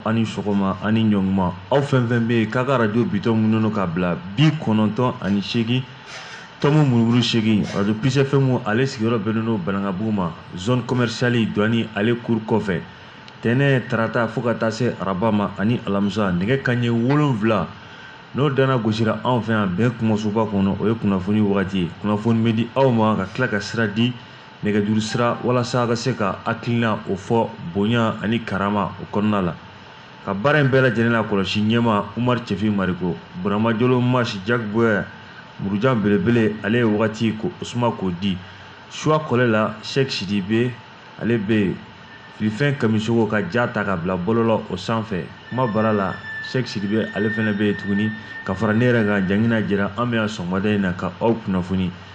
Aw ni sɔgɔma aw ni ɲɔgɔnma aw fɛn fɛn bɛ yen k'a ka radio bitɔn munumunu ka bila bi kɔnɔntɔn ani seegin tɔmi murumuru seegin radio plus FM ale sigiyɔrɔ bɛnnen don Banankabugu ma zone commerciale douane ale cour kɔfɛ tɛnɛ tarata fo ka taa se araba ma ani alamisa nɛgɛ kanɲɛ wolonwula n'o dana gosira anw fɛ yan bɛn kumasoba kɔnɔ o ye kunnafoni wagati ye kunnafoni bɛ di aw ma ka tila ka sira di nɛgɛjuru sira walasa ka se ka hakilina o fɔ bonya ani karama o kɔnɔna la ka baara in bɛɛ lajɛlen la kɔlɔsi ɲɛma umar cɛfin mariko burama jolo masi jack boyer murujan belebele ale ye wagati k'o suma k'o di suwa kɔlɛ la sheikh sidibe ale bɛ yen filifɛn kamisogo ka ja ta ka bila bɔlɔlɔ o sanfɛ kuma bara la sheikh sidibe ale fana bɛ yen tuguni ka fara ne yɛrɛ kan jangina jira an bɛ yan sɔgɔmada in na ka aw kunnafoni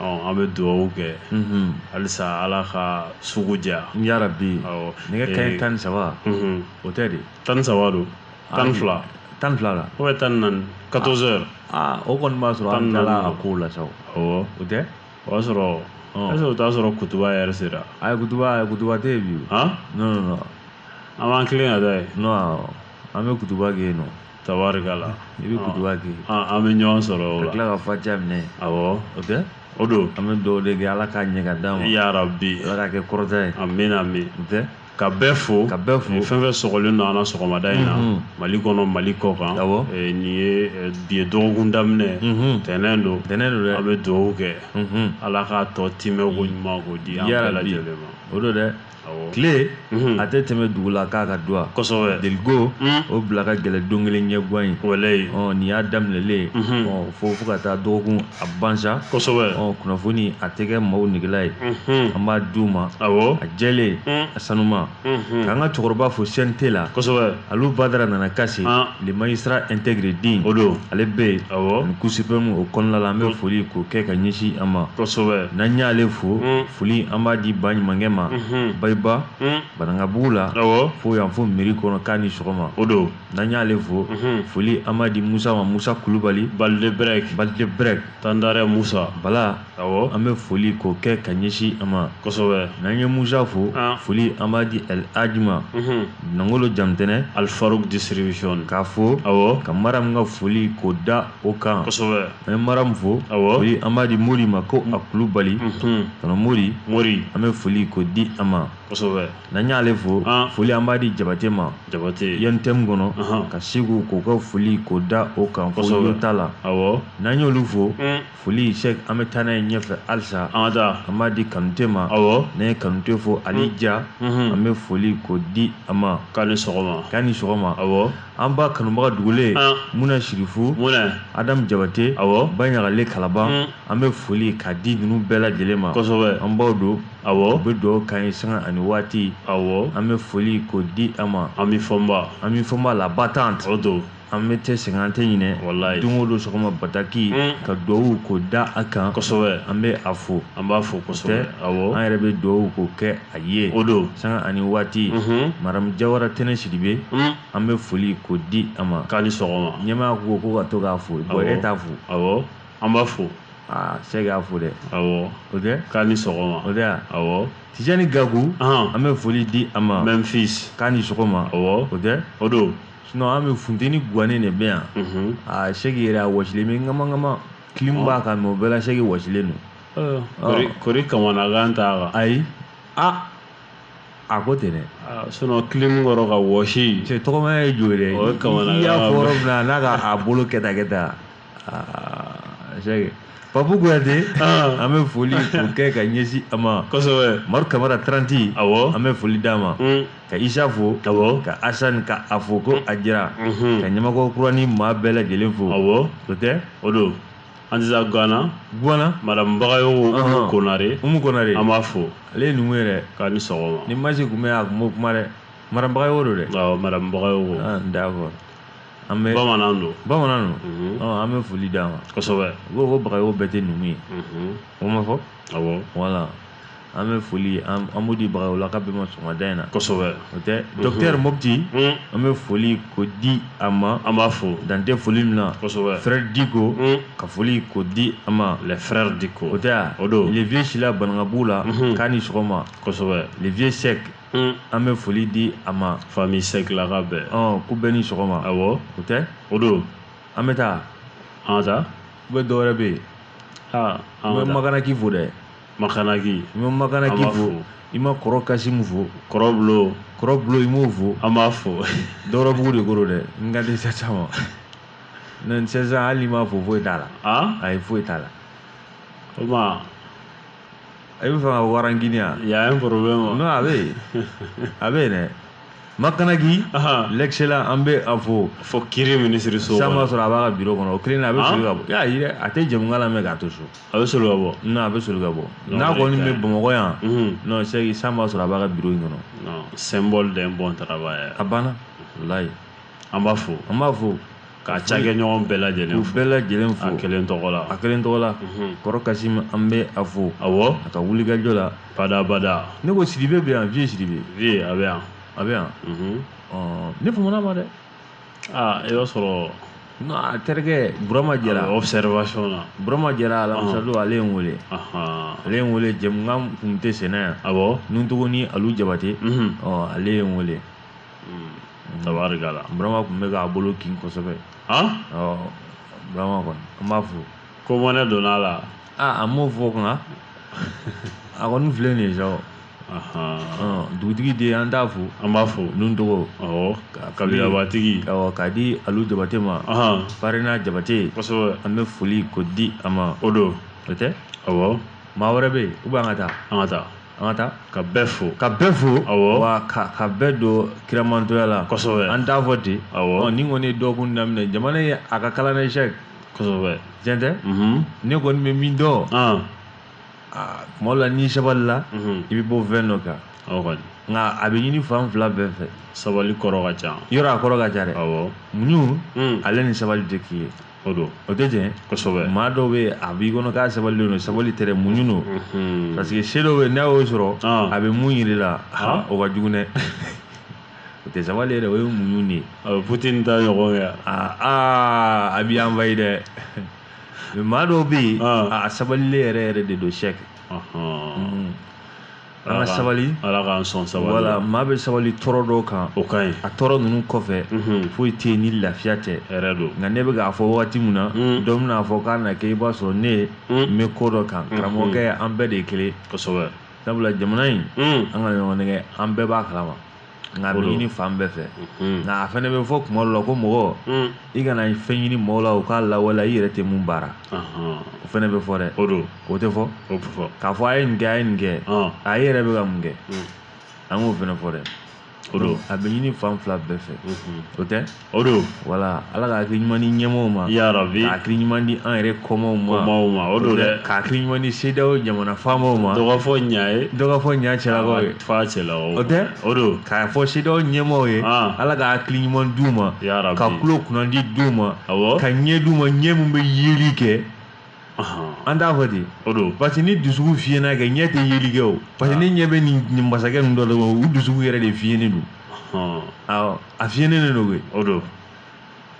an bɛ dugawu kɛ halisa ala ka sugu diya yarabi nɛgɛ kanɲɛ tan ni saba o tɛ de tan ni saba don tan fila tan fila la ou bien tan naani quatorze heures o kɔni b'a sɔrɔ an tilala a ko la sa awɔ o tɛ o y'a sɔrɔ o t'a sɔrɔ kutuba yɛrɛ sera a kutuba kutuba tɛ yen bi an b'an tilen ka taa yen an bɛ kutuba kɛ yen nɔ tabarikala i bɛ kutuba kɛ an bɛ ɲɔgɔn sɔrɔ o tila ka fatiha minɛ awɔ o tɛ o don an bɛ dugawu de kɛ ala k'a ɲɛ ka d'an ma yarabi ala k'a kɛ kɔrɔta ye amin amin o tɛ ka bɛɛ fo ka bɛɛ fo fɛn fɛn sɔgɔlen don an na sɔgɔmada in na mali kɔnɔ mali kɔ kan nin ye bi ye dɔgɔkun daminɛ tɛnɛn don tɛnɛn don an bɛ dugawu kɛ ala k'a tɔ timɛ ko ɲuman k'o di an bɛɛ lajɛlen ma o don dɛ tile a tɛ tɛmɛ dugu la k'a ka duwa deliko o bila ka gɛlɛn don kelen ɲɛgan in nin y'a daminɛlen fo fo ka taa dɔgɔkun a ban sa kunnafoni a tɛ kɛ maaw negela ye an b'a d'u ma awɔ a jɛlen a sanuma k'an ka cɛkɔrɔba fo CNT la Alu badara nana kase le magistrat intègre dɛ o don ale bɛ yen awɔ cour suprême o kɔnɔna la an bɛ foli k'o kɛ ka ɲɛsin an ma n'an y'ale fo foli an b'a di ba ɲumankɛ ma bayiba banankabugu la fo yan fo mairie kɔnɔ k'a ni sɔgɔma o don n'an y'ale fo foli an b'a di musa ma musa kulubali balileɛrɛ balileɛrɛ tandara musa bala Ɔwɔ an bɛ foli k'o kɛ ka ɲɛsin a ma kosɛbɛ n'an ye musa fo foli an b'a di El Hadji ma nangolo jamutɛnɛn Al Farouk distribution k'a fo ɔwɔ ka maram ka foli k'o da o kan kosɛbɛ an ye maram fo ɔ an b'a di mori ma ko a kulubali kɔnɔ mori mori an bɛ foli k'o di a ma kosɛbɛ n'an y'ale fo foli an b'a di jabate ma jabate yan tɛ min kɔnɔ ka segu k'o ka foli k'o da o kan fo yota la ɔ n'an y'olu fo foli sɛki an bɛ taa n'a ye ɲɛfɛ halisa an da an b'a di kanute ma awɔ n'an ye kanute fo ali hmm. ja hmm. an bɛ foli k'o di a ma k'a ni sɔgɔma k'a ni sɔgɔma awɔ an ba kanubaga dugulen ah. muna sirifu muna adamu jabate awɔ ba ɲagale kalaban hmm. an bɛ foli k'a di ninnu bɛɛ lajɛlen ma kosɛbɛ an baw don awɔ u bɛ dugawu k'an ye sanga ani waati awɔ an bɛ foli k'o di a ma ami fɔnba ami fɔnba la battante o don an bɛ tɛ sɛgɛn an tɛ ɲinɛ walayi don o don sɔgɔma bataki mm. ka duwawu k'o da a kan kosɛbɛ an bɛ a fo an b'a fo kosɛbɛ awɔ an yɛrɛ bɛ duwawu k'o kɛ a ye o don sanga ani waati mhm. madamu jawara tɛnɛ sidibe mm. an bɛ foli k'o di a ma k'a ni sɔgɔma ɲɛmaa ko ko ka to k'a fo bon e t'a fo awɔ an b'a fo aa sɛki y'a fo dɛ awɔ o tɛ k'a ni sɔgɔma o tɛ a awɔ tijani gaku an bɛ foli di a ma memfis k'a ni sɔgɔma awɔ o tɛ o don sinon an bɛ funteni gannen de bɛ yan a seki yɛrɛ a wɔsilen bɛ ŋama clim b'a kan mɛ o bɛɛ la seki wɔsilen don kori kamanagan t'a ayi aa a ko ten dɛ sinon clim kɔrɔ ka wɔsi cɛ tɔgɔmaya ye jo ye dɛ i y'a fɔ yɔrɔ min na n'a ka a bolo kɛta kɛta papu kuyate an bɛ foli k'o kɛ ka ɲɛsin a ma maru kamara tranti an bɛ foli d'a ma ka isa fo ka asani ka a fo ko a jira ka ɲamakɔrɔ kurani maa bɛɛ lajɛlen fo o tɛ o don an tɛ taa gwana gwana madamu bagayogo umu konare umu konare an b'a fo ale ye numu yɛrɛ k'a ni sɔgɔma ni masi tun bɛ yan a tun bɛ kuma dɛ madamu bagayogo don dɛ madamu bagayogo d'accord an bɛ bamanan don bamanan don mhm. an bɛ foli d'a ma kosɛbɛ u ko ko bagayogo bɛɛ tɛ numu ye mhm. o ma fɔ awɔ voilà an bɛ foli an b'o di bagayogolaka bɛɛ ma sɔgɔmada in na kosɛbɛ o tɛ mhm. dɔkitɛri mopti an bɛ foli k'o di a ma an b'a fo dan tɛ foli min na kosɛbɛ frère diko ka foli k'o di a ma le frère diko o tɛ o don le vieux sila banankabugu la k'a ni sɔgɔma kosɛbɛ le vieux sɛk An bɛ foli di a ma famille sɛkilaka bɛɛ k'u bɛɛ ni sɔgɔma a o tɛ o don an bɛ taa an ka taa u bɛ dɔwɛrɛ bɛ yen aa an bɛ makanaki fo dɛ makanaki n bɛ makanaki fo i ma kɔrɔ kasimu fo kɔrɔbulo kɔrɔbulo i m'o fo an b'a fo dɔwɛrɛbugu de kɔrɔ dɛ n ka disa caman ma non hali n'i m'a fo foyi t'a la ayi foyi t'a la i bɛ fɛ ka warangini wa il y a un problème non a bɛ yen a bɛ yen dɛ makanaki l'excellent an bɛ a fo fo kiri minisiri so sisan b'a sɔrɔ a b'a ka biro kɔnɔ o kelen na a bɛ soli ka bɔ y'a ye a tɛ jɛmukan lamɛn k'a to so a bɛ soli ka bɔ non a bɛ soli ka bɔ n'a kɔni bɛ bamakɔ yan non sɛki sisan b'a sɔrɔ a b'a ka biro in kɔnɔ non symbole d'un bon travail a banna walayi an b'a fo an b'a fo K'a cakɛɲɔgɔn bɛɛ lajɛlen fo. U bɛɛ lajɛlen fo. A kelen tɔgɔ la. A kelen tɔgɔ la. Unhun. Kɔrɔ Kasimu an bɛ a fo. Awɔ. A ka wulikajɔ la. Bada bada. Ne ko Sidibe bɛ yan, Vieux Sidibe. Vieux a bɛ yan. A bɛ yan. Unhun. Ɔɔ ne faman'a ma dɛ. Aa i b'a sɔrɔ. N a terikɛ Burama Jara. A bɛ observation na. Burama Jara alamisa don ale ye n wele. Anhan. Ale ye n wele jɛmukan tun tɛ senna yan. Awɔ. Nuntogo ni Alu Jabate. Unhun. Ɔɔ ale ye n wele. Unhun. Tabarikala burama tun bɛ k'a bolo kin kosɛbɛ burama kɔni an b'a fo ko mɔnɛ donna a la aa an m'o fɔ nka a kɔni filɛ nin ye sa dugutigi de an t'a fo an b'a fo nuntogo kabilabatigi k'a di alu jabate ma farina jabate an bɛ foli ko di a ma o don o tɛ maa wɛrɛ bɛ yen ou bien an ka taa an ka taa an ka taa ka bɛɛ fo ka bɛɛ fo awɔ wa ka bɛɛ don kiramantɔya la kosɛbɛ an t'a fɔ ten awɔ nin kɔni ye dɔgɔkun daminɛ jamana ye a ka kalan dɛ sɛki kosɛbɛ tiɲɛ tɛ mhm. ne kɔni bɛ min dɔn ah. ah, tuma dɔ la n'i sabalila mhm. i bɛ bɔ fɛn dɔ kan awɔ kɔni nka a bɛ ɲini fan fila bɛɛ fɛ sabali kɔrɔ ka ca yɔrɔ a kɔrɔ ka ca dɛ awɔ muɲu hmm. ale ni sabali tɛ kelen ye o don o tɛ tiɲɛ kosɛbɛ maa dɔw bɛ yen a b'i kɔnɔ k'a sabalilen don sabali tɛ dɛ muɲu don Mhm. parce que se dɔw bɛ yen n'a y'o sɔrɔ Ah. a bɛ mun yir'i la ha, o ka jugu dɛ o tɛ sabali ye dɛ o ye muɲu de ye a bɛ Poutine ta ɲɔgɔn kɛ aa aa, a b'i envahi dɛ Mais maa dɔw bɛ yen Ah. a sabalilen yɛrɛ yɛrɛ de don sɛki Ɔhɔn. an ka sabali ala k'an sɔn sabali voilà maa bɛ sabali tɔɔrɔ dɔw kan o ka ɲi a tɔɔrɔ ninnu kɔfɛ foyi tɛ yen ni lafiya tɛ hɛrɛ don nka ne bɛ k'a fɔ wagati min na dɔ bɛn'a fɔ k'a na kɛ i b'a sɔrɔ ne n bɛ ko dɔ kan karamɔgɔkɛ an bɛɛ de ye kelen kosɛbɛ sabula jamana in an kana ɲɔgɔn nɛgɛn an bɛɛ b'a kalama nka a bɛ ɲini fan bɛɛ fɛ nka a fana bɛ fɔ tuma dɔ la ko mɔgɔ i kana fɛn ɲini mɔgɔw la u k'a lawaleya i yɛrɛ tɛ mun baara o fana bɛ fɔ dɛ o don o tɛ fɔ k'a fɔ a ye nin kɛ a ye nin kɛ a e yɛrɛ bɛ ka mun kɛ an k'o fana fɔ dɛ o don a bɛ ɲini fan fila bɛɛ fɛ o tɛ o don wala ala ka hakili ɲuman di ɲɛmɔgɔw ma ya rabi ka hakili ɲuman di an yɛrɛ kɔmaw ma kɔmaw ma o don dɛ ka hakili ɲuman di CEDEAO jamana faamaw ma dɔgɔ fɔ ɲa ye dɔgɔ fɔ ɲa cɛlakaw ye fa cɛlakaw o tɛ o don k'a fɔ CEDEAO ɲɛmɔgɔw ye ala ka hakili ɲuman d'u ma ya rabi ka tulo kunnandi d'u ma awɔ ka ɲɛ d'u ma ɲɛ min bɛ yeli kɛ an t'a fɔ ten o don parce que ni dusukun fiyɛnna kɛ ɲɛ tɛ yeli kɛ o parce que ne ɲɛ bɛ nin masakɛ ninnu dɔ la u dusukun yɛrɛ de fiyɛnnen don a fiyɛnnen de don koyi o don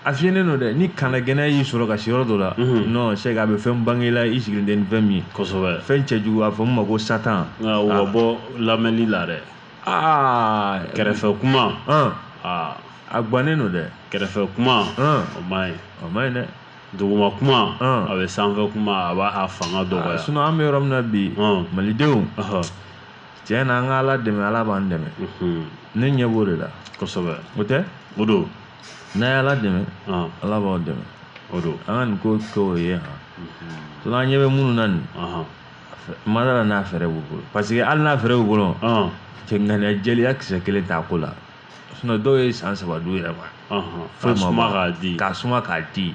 a fiyɛnnen don dɛ ni kana gɛnna y'i sɔrɔ ka se yɔrɔ dɔ la non c'est que a bɛ fɛn bange i la i sigilen tɛ ni fɛn min ye kosɛbɛ fɛn cɛjugu a fɔ min ma ko satan o ka bɔ lamɛnli la dɛ aa kɛrɛfɛ kuma a gannen don dɛ kɛrɛfɛ kuma o man ɲi o man ɲi dɛ duguma kuma Ɔn. a bɛ sanfɛ kuma a b'a a fanga dɔgɔya sinɔn an bɛ yɔrɔ min na bi Ɔn. malidenw Ɔhɔ. tiɲɛ na an ka ala dɛmɛ ala b'an dɛmɛ Mhm. ne ɲɛ b'o de la kosɛbɛ o tɛ o don n'a ye ala dɛmɛ Ɔn. ala b'aw dɛmɛ o don an ka nin ko kɛ o ye han sinɔn an ɲɛ bɛ minnu na nin Ɔhɔ. n ma da a la n'a fɛɛrɛ b'u bolo paseke hali n'a fɛɛrɛ b'u bolo Ɔn. cɛ ŋaniya jɛlenya kisɛ kelen t'a ko la dɔw ye san saba d'u yɛrɛ ma k'a suma k'a di k'a suma k'a di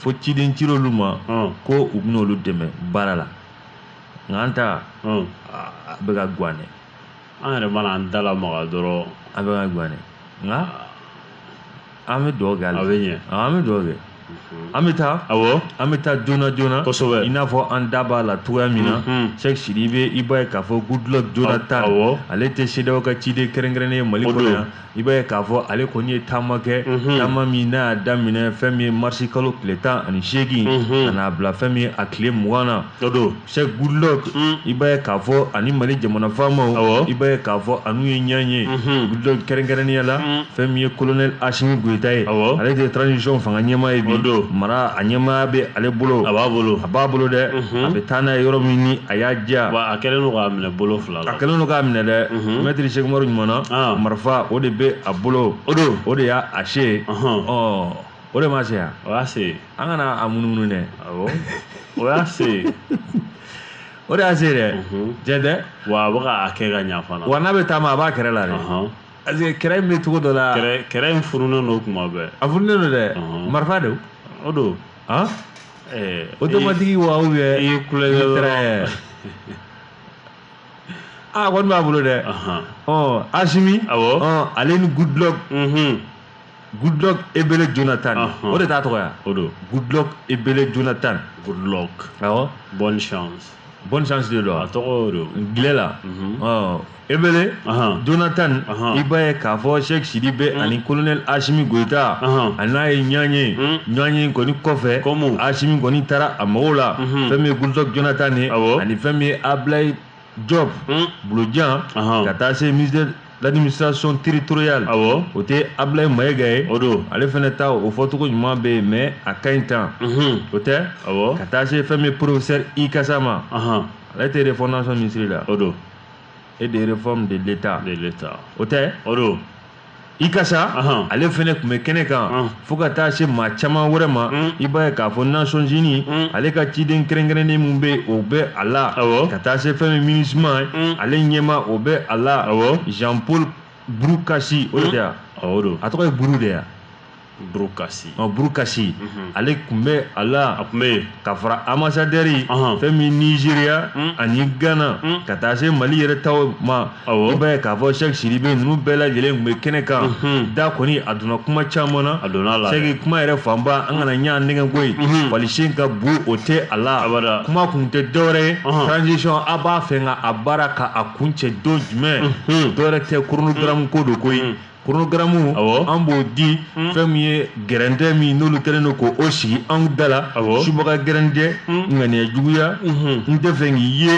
fo ciden cir'olu ma ko u bɛna olu dɛmɛ baara la nka an ta a bɛ ka gan an yɛrɛ mana an da lamaga dɔrɔn a bɛ ka gan nka an bɛ dugawu kɛ a bɛ ɲɛ an bɛ dugawu kɛ an bɛ taa awɔ an bɛ taa joona joona kosɛbɛ i n'a fɔ an da b'a la cogoya min na Sɛki Sidibe i b'a ye k'a fɔ Goodluck Jonathan awɔ ale tɛ CEDEAO ka ciden kɛrɛnkɛrɛnnen ye mali kɔnɔ yan i b'a ye k'a fɔ ale kɔni ye taama kɛ taama min n'a y'a daminɛ fɛn min ye marisi kalo tile tan ani seegin ka n'a bila fɛn min ye a tile mugan na o don Sɛki Goodluck i b'a ye k'a fɔ ani mali jamana faamaw i b'a ye k'a fɔ a n'u ye ɲɔgɔn ye Goodluck kɛrɛnkɛrɛnnenya la fɛn min ye colonel Asimi Goyita ye ale tɛ transition fanga ɲɛmaa ye bi o don mara a ɲɛmaaya bɛ ale bolo a b'a bolo a b'a bolo dɛ a bɛ taa n'a ye yɔrɔ min ni a y'a diya a kɛlen don k'a minɛ bolo fila la a kɛlen don k'a minɛ dɛ mɛtiri Sɛki Umaru ɲuman na marifa o de bɛ a bolo o don o de y'a a se ɔ o de ma se o y'a se an kana a munumunu dɛ awɔ o y'a se ye o de y'a se dɛ Mhm. tiɲɛ tɛ wa a bɛ ka a kɛ ka ɲa fana wa n'a bɛ taama a b'a kɛrɛ la dɛ Ɔhɔn. parce que kɛrɛ in bɛ cogo dɔ la kɛrɛ kɛrɛ in furunen don tuma bɛɛ a furulen don dɛ Ɔhɔn. marifa don o don han ɛɛ automatique wa ou bien i y'i kulonkɛ dɔrɔn. Très. a kɔni b'a bolo dɛ Ahan. ɔ asimi Awɔ. ɔ ale ni Goodluck Mhm. Goodluck Ebele Jonathan o de t'a tɔgɔ o don Goodluck Ebele Jonathan Goodluck awɔ bonne chance bonne chance de don a tɔgɔ o don angilɛ la ɔ Ebele Jonathan i b'a ye k'a fɔ Sɛki Sidibe ani colonel Asimi Goyita a n'a ye ɲɔgɔn ye ɲɔgɔn ye kɔni kɔfɛ Asimi kɔni taara a mago la fɛn min ye Goodluck Jonathan ye ani fɛn min ye Abilaye diop bulojan ka taa se ministère l'administration territoriale awɔ o tɛ ablaye mayiga ye o don ale fana ta o fɔcogo ɲuman bɛ yen mais a ka ɲi tan o tɛ awɔ ka taa se fɛn min professeur ikasa ma ale tɛ refondation ministre la o don et des réformes de l'état de l'état o tɛ o don ikasa ale fana tun bɛ kɛnɛ kan fo ka taa se maa caman wɛrɛ ma i b'a ye k'a fɔ nations unies ale ka ciden kɛrɛnkɛrɛnnen min bɛ o bɛ a la ka taa se fɛn min minusma ale ɲɛmaa o bɛ a la jean paul buru kasi o tɛ yan a tɔgɔ ye buru de yan burukasi ɔ burukasi mhm. ale tun bɛ a la a tun bɛ yen ka fara ambasadɛri fɛn min nizeriya mm. ani gana mm. ka taa se mali yɛrɛ taw ma i b'a ye k'a fɔ sɛki sidibe ninnu bɛɛ lajɛlen tun bɛ kɛnɛ kan mhm. da kɔni a donna kuma caman na a donna la sɛki kuma yɛrɛ fanba an kana ɲa nɛgɛ ko ye mhm. walisen ka bu o tɛ a la kuma kun tɛ dɔwɛrɛ ye transition a b'a fɛ ka a baara ka a kuncɛ don jumɛn dɔwɛrɛ tɛ koronogaramu ko don koyi koronogaramu an b'o di fɛn min ye gɛrɛntɛ min n'olu kɛlen don k' o sigi an da la subaga gɛrɛntɛ ŋaniya juguya n tɛ fɛ k'i ye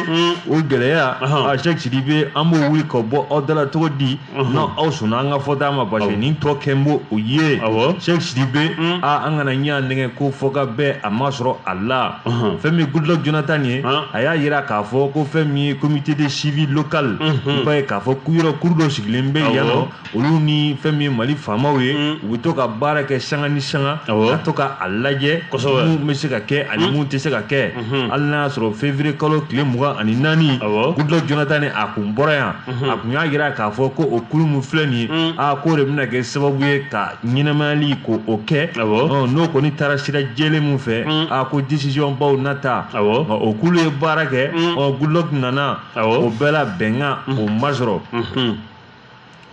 o gɛlɛya a sɛki sidibe an b'o wuli ka bɔ aw da la cogo di n' aw sɔnna an ka fɔta ma parce que nin tɔ kɛ n b'o o ye sɛki sidibe aaa an kana ɲa nɛgɛ ko fɔ ka bɛn a ma sɔrɔ a la Unhun. fɛn min ye goodluck jonathan ye Han. a y'a jira k'a fɔ ko fɛn min ye comité de suivi local Unhun. i b'a ye k'a fɔ ku- yɔrɔ kuru dɔ sigilen bɛ Awɔ. yan nɔ olu ni fɛn min ye mali faamaw ye Mm. u bɛ to ka baara kɛ sanga ni sanga Awɔ. ka to ka a lajɛ Kosɛbɛ. mun bɛ se ka kɛ ani mun tɛ se ka kɛ Mhm. hali n'a y'a sɔrɔ février kalo tile mugan ani naani Awɔ. goodluck jonathan ni a kun bɔra yan a kun y'a jira k'a fɔ ko o kulu min filɛ nin ye Mm. aa k'o de bɛna kɛ sababu ye ka ɲɛnamayali ko o kɛ n'o kɔni taara sira jɛlen min fɛ mm. a ko décision baw na ta o kulu ye baara kɛ mm. Goodluck nana o bɛɛ la bɛnkan mm. o ma sɔrɔ mm-hmm.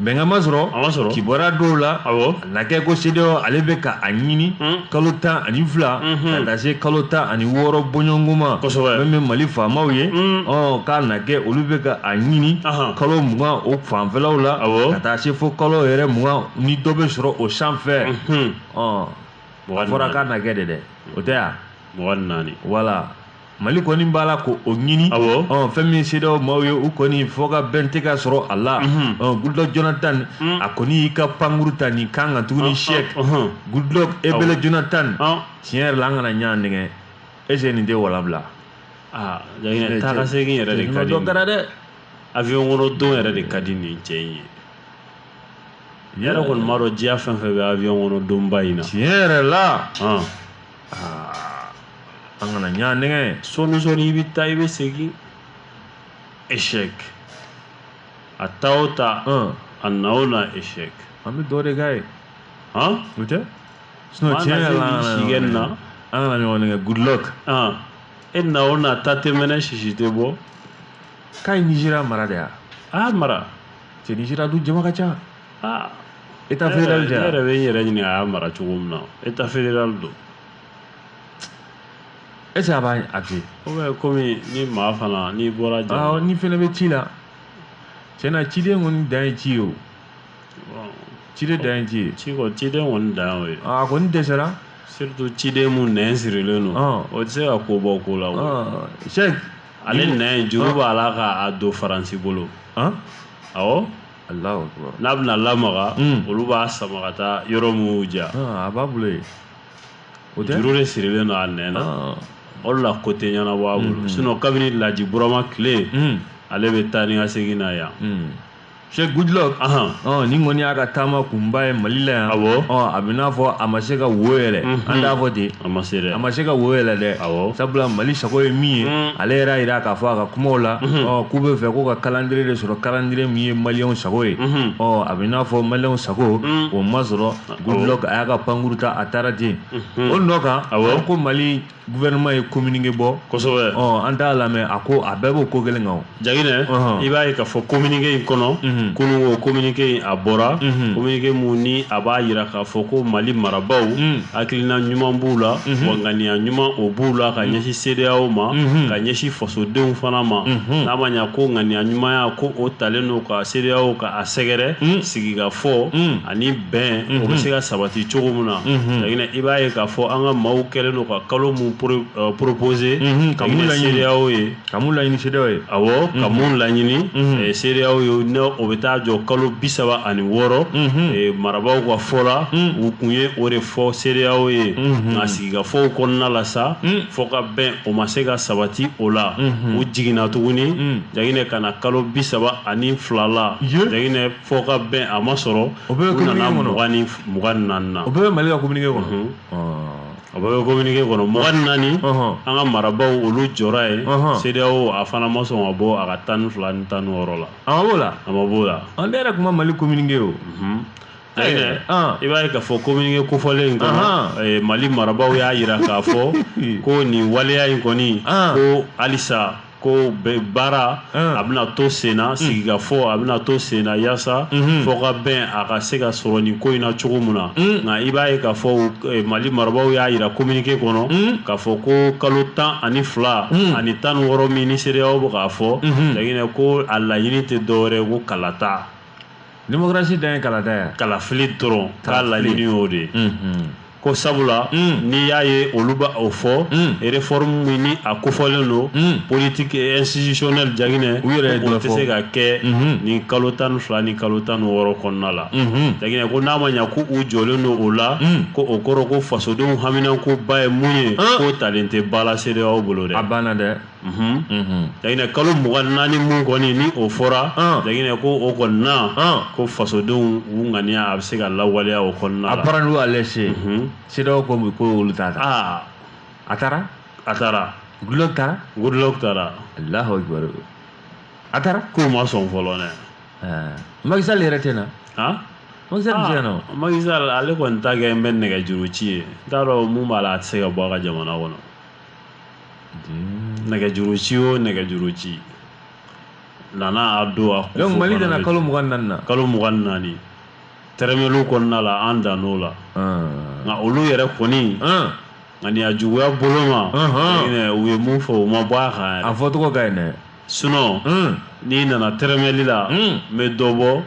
bɛnkan ma sɔrɔ kibaruya dɔw la a na kɛ ko CEDEAO ale bɛ ka a ɲini kalo tan ani fila mm-hmm. ka taa se kalo tan ani wɔɔrɔ bɔɲɔgɔnko ma min bɛ Mali faamaw ye k'a na kɛ olu bɛ ka a ɲini kalo mugan o fanfɛlaw la ka taa se fo kalo yɛrɛ mugan ni dɔ bɛ sɔrɔ o sanfɛ a fɔra k'a na kɛ de dɛ o tɛ yan mugan ni naani voilà mali kɔni b'a la ko o ɲini fɛn min CEDEAO maaw ye u kɔni fɔ ka bɛn tɛ ka sɔrɔ a la goodluck jonathan a kɔni y'i ka pankuru ta nin kan kan tuguni sɛki goodluck ebele jonathan tiɲɛ yɛrɛ la an kana ɲɔgɔn nɛgɛ est-ce que nin tɛ walabila aa taa ka segin yɛrɛ de ka di dɛ avion kɔnɔ don yɛrɛ de ka di nin cɛ in ye yɛrɛ kɔni m'a dɔn diɲɛ fɛn fɛn bɛ avion kɔnɔ donba in na tiɲɛ yɛrɛ la an kana ɲa nɛgɛ sɔɔni sɔɔni i bɛ taa i bɛ segin échec a taa o taa a na o na échec an bɛ dɔ de k'a ye o tɛ sinon tiɲɛ yɛrɛ la an kana ɲɔgɔn nɛgɛ Goodluck e na o na ta tɛ mɛnɛ sisi tɛ bɔ k'a ye nizeriya mara de ya a y'a mara cɛ nizeriya dun jama ka ca aa état fédéral ne yɛrɛ bɛ n yɛrɛ ɲini a y'a mara cogo min na état fédéral don est-ce que a b'a a fɛ yen komi ni maa fana n'i bɔra jama ni fɛnɛ bɛ ci la tiɲɛ na ciden kɔni dan ye ci ye o ciden dan ye ci ye ci kɔni ciden kɔni dan y'o ye a kɔni dɛsɛra surtout ciden mun nɛn sirilen don o tɛ se ka ko bɔ ko la o sɛki ale nɛn juru b'a la k'a don faransi bolo han awɔ alahu akibaru n'a bɛna lamaga Mm. olu b'a sama ka taa yɔrɔ mun y'u diya Ah, a b'a bolo yen o tɛ juru de sirilen don a nɛn na Ah, o de la ko tɛ ɲɛnabɔ a bolo sinon kabini laji burama tile mm, ale bɛ taa ni ka segin na yan mm. Sɛki Goodluck hɔn nin kɔni y'a ka taama kunba ye mali la yan a bɛ n'a fɔ a ma se ka wo yɛlɛ an t'a fɔ ten a ma se a ma se ka wo yɛlɛ dɛ sabula mali sago ye min ye ale yɛrɛ y'a jira k'a fɔ a ka kumaw la k'u bɛ fɛ k'u ka calendrier de sɔrɔ calendrier min ye maliyɛnw sago ye ɔ a bɛ n'a fɔ maliyɛnw sago o ma sɔrɔ Goodluck a y'a ka pankurun ta a taara ten o nɔ kan a ko mali gouvernement ye communiqué bɔ kosɛbɛ ɔ an t'a lamɛn a ko a bɛɛ b'o ko kelen kan jaginɛ uh-huh. i b'a ye k'a fɔ communiqué in kɔnɔ uh-huh. kunun o communiqué in a bɔra uh-huh. communiqué mun ni a b'a jira k'a fɔ ko mali marabaw mm. hakilina ɲuman b'u la wa ŋaniya ɲuman o b'u la ka mm. ɲɛsin CEDEAO ma ka ɲɛsin fasodenw fana ma n'a ma ɲa ko ŋaniya ɲumanya ko o talen don ka CEDEAO ka a sɛgɛrɛ mm. sigikafɔ ani bɛn o bɛ se ka sabati cogo min na jaginɛ i b'a ye k'a fɔ an ka maaw kɛlen don ka kalo mun proposer ka mun la CEDEAO ye ka mun laɲini CEDEAO ye a ka mun laɲini CEDEAO ye n'o bɛ taa jɔ kalo bi saba ani wɔɔrɔ marabaw ka fɔ la u kun ye o de fɔ CEDEAO ye nka sigikafɔw kɔnɔna la sa fɔ ka bɛn o ma se ka sabati o la u jiginna tuguni jaginɛ ka na kalo bi saba ani fila la jaginɛ fɔ ka bɛn a ma sɔrɔ u nana mugan ni naani na o bɛɛ bɛ mali ka communiqué kɔnɔ mhm. o bɛɛ bɛ communiqué kɔnɔ mugan ni naani an ka marabaw olu jɔra yen CEDEAO a fana ma sɔn ka bɔ a ka tan ni fila ni tan ni wɔɔrɔ la a ma b'o la a ma b'o la ne yɛrɛ tun ma mali communiqué o mhm. jaginɛ ah. i b'a ye k'a fɔ communiqué kofɔlen in kɔnɔ mali marabaw y'a jira k'a fɔ ko nin waleya in kɔni ah. ko halisa ko baara ah. a bɛna to senna mm. sigikafɔ a bɛna to senna yaasa mm-hmm. fɔkabɛn a ka se ka sɔrɔ nin ko in na cogo min na mm. nka i b'a ye k'a fɔ eh, mali marabaaw y'a jira kominike kɔnɔ mm. k'a fɔ ko kalo tan ani fila ani tan ni wɔɔrɔ min ni CEDEAO bɛ k'a fɔ mm-hmm. jaginɛ ko a laɲini tɛ dɔwɛrɛ ko kalata démocratie dan ye kalata ye kalafili dɔrɔn k'a laɲini y'o de ye mhm. ko sabula mm. n'i y'a ye olu bɛ o fɔ mm. réforme min ni a kofɔlen don mm. politique institutionnelle jaginɛ u yɛrɛ o tɛ se ka kɛ mhm. nin kalo tan ni fila ni kalo tan ni wɔɔrɔ kɔnɔna la mhm. jaginɛ ko n'a ma ɲa ko u jɔlen don o la ko o kɔrɔ ko fasodenw haminankoba ye mun ye ah. k'o talen tɛ ba la CEDEAO bolo dɛ a banna dɛ jaginɛ kalo mugan naani mun kɔni ni o fɔra jaginɛ ko o kɔni na ko fasodenw u ŋaniya a bɛ se ka lawaleya o kɔnɔna la a bɔra n'u y'a lase CEDEAO ko bi ko olu t'a ta a taara a taara Goodluck taara Goodluck taara alahaw jɔyɔrɔ a taara k'u ma sɔn fɔlɔ dɛ Macky Sall yɛrɛ tɛ na Macky Sall ale kɔni ta kɛlen bɛ nɛgɛjuru ci ye n t'a dɔn mun b'a la a tɛ se ka bɔ a ka jamana kɔnɔ nɛgɛjuru ci o nɛgɛjuru ci nana a don a kun donc mali nana kalo mugan naani na kalo mugan naani tɛrɛmɛliw kɔnɔna la an dann'o la nka olu yɛrɛ kɔni ŋaniya juguya bolo ma u ye mun fɔ u ma bɔ a kan a fɔcogo ka ɲi dɛ sinon n'i nana tɛrɛmɛli la n bɛ dɔ bɔ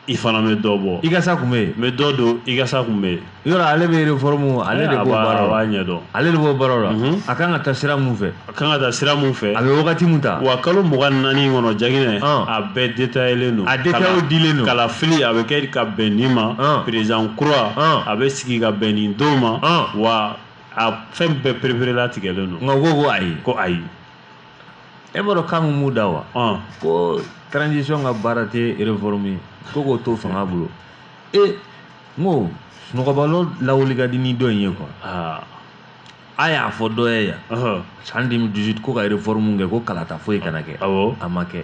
i fana bɛ dɔ bɔ i ka sa kunbɛn yen n bɛ dɔ don i ka sa kunbɛn yen yɔrɔ ale bɛ réforme ale de b'o baara la a b'a ɲɛdɔn ale de b'o baara la mhm. a kan ka taa sira mun fɛ a kan ka taa sira mun fɛ a bɛ wagati mun ta wa kalo mugan ni naani in kɔnɔ jaginɛ a bɛɛ detayelen don a detayew dilen don kalafili a bɛ kɛ ka bɛn nin ma président kura a bɛ sigi ka bɛn nin don ma wa a fɛn bɛɛ pereperelatigɛlen don nka ko ko ayi ko ayi e b'a dɔn kan mun b'u da wa ko transition ka baara tɛ réforme ye ko k'o to fanga bolo e n ko sunɔgɔbalo lawuli ka di ni dɔ in ye quoi a y'a fɔ dɔ ye yan san 2018 ko ka réforme kɛ ko kalata foyi kana kɛ awɔ a ma kɛ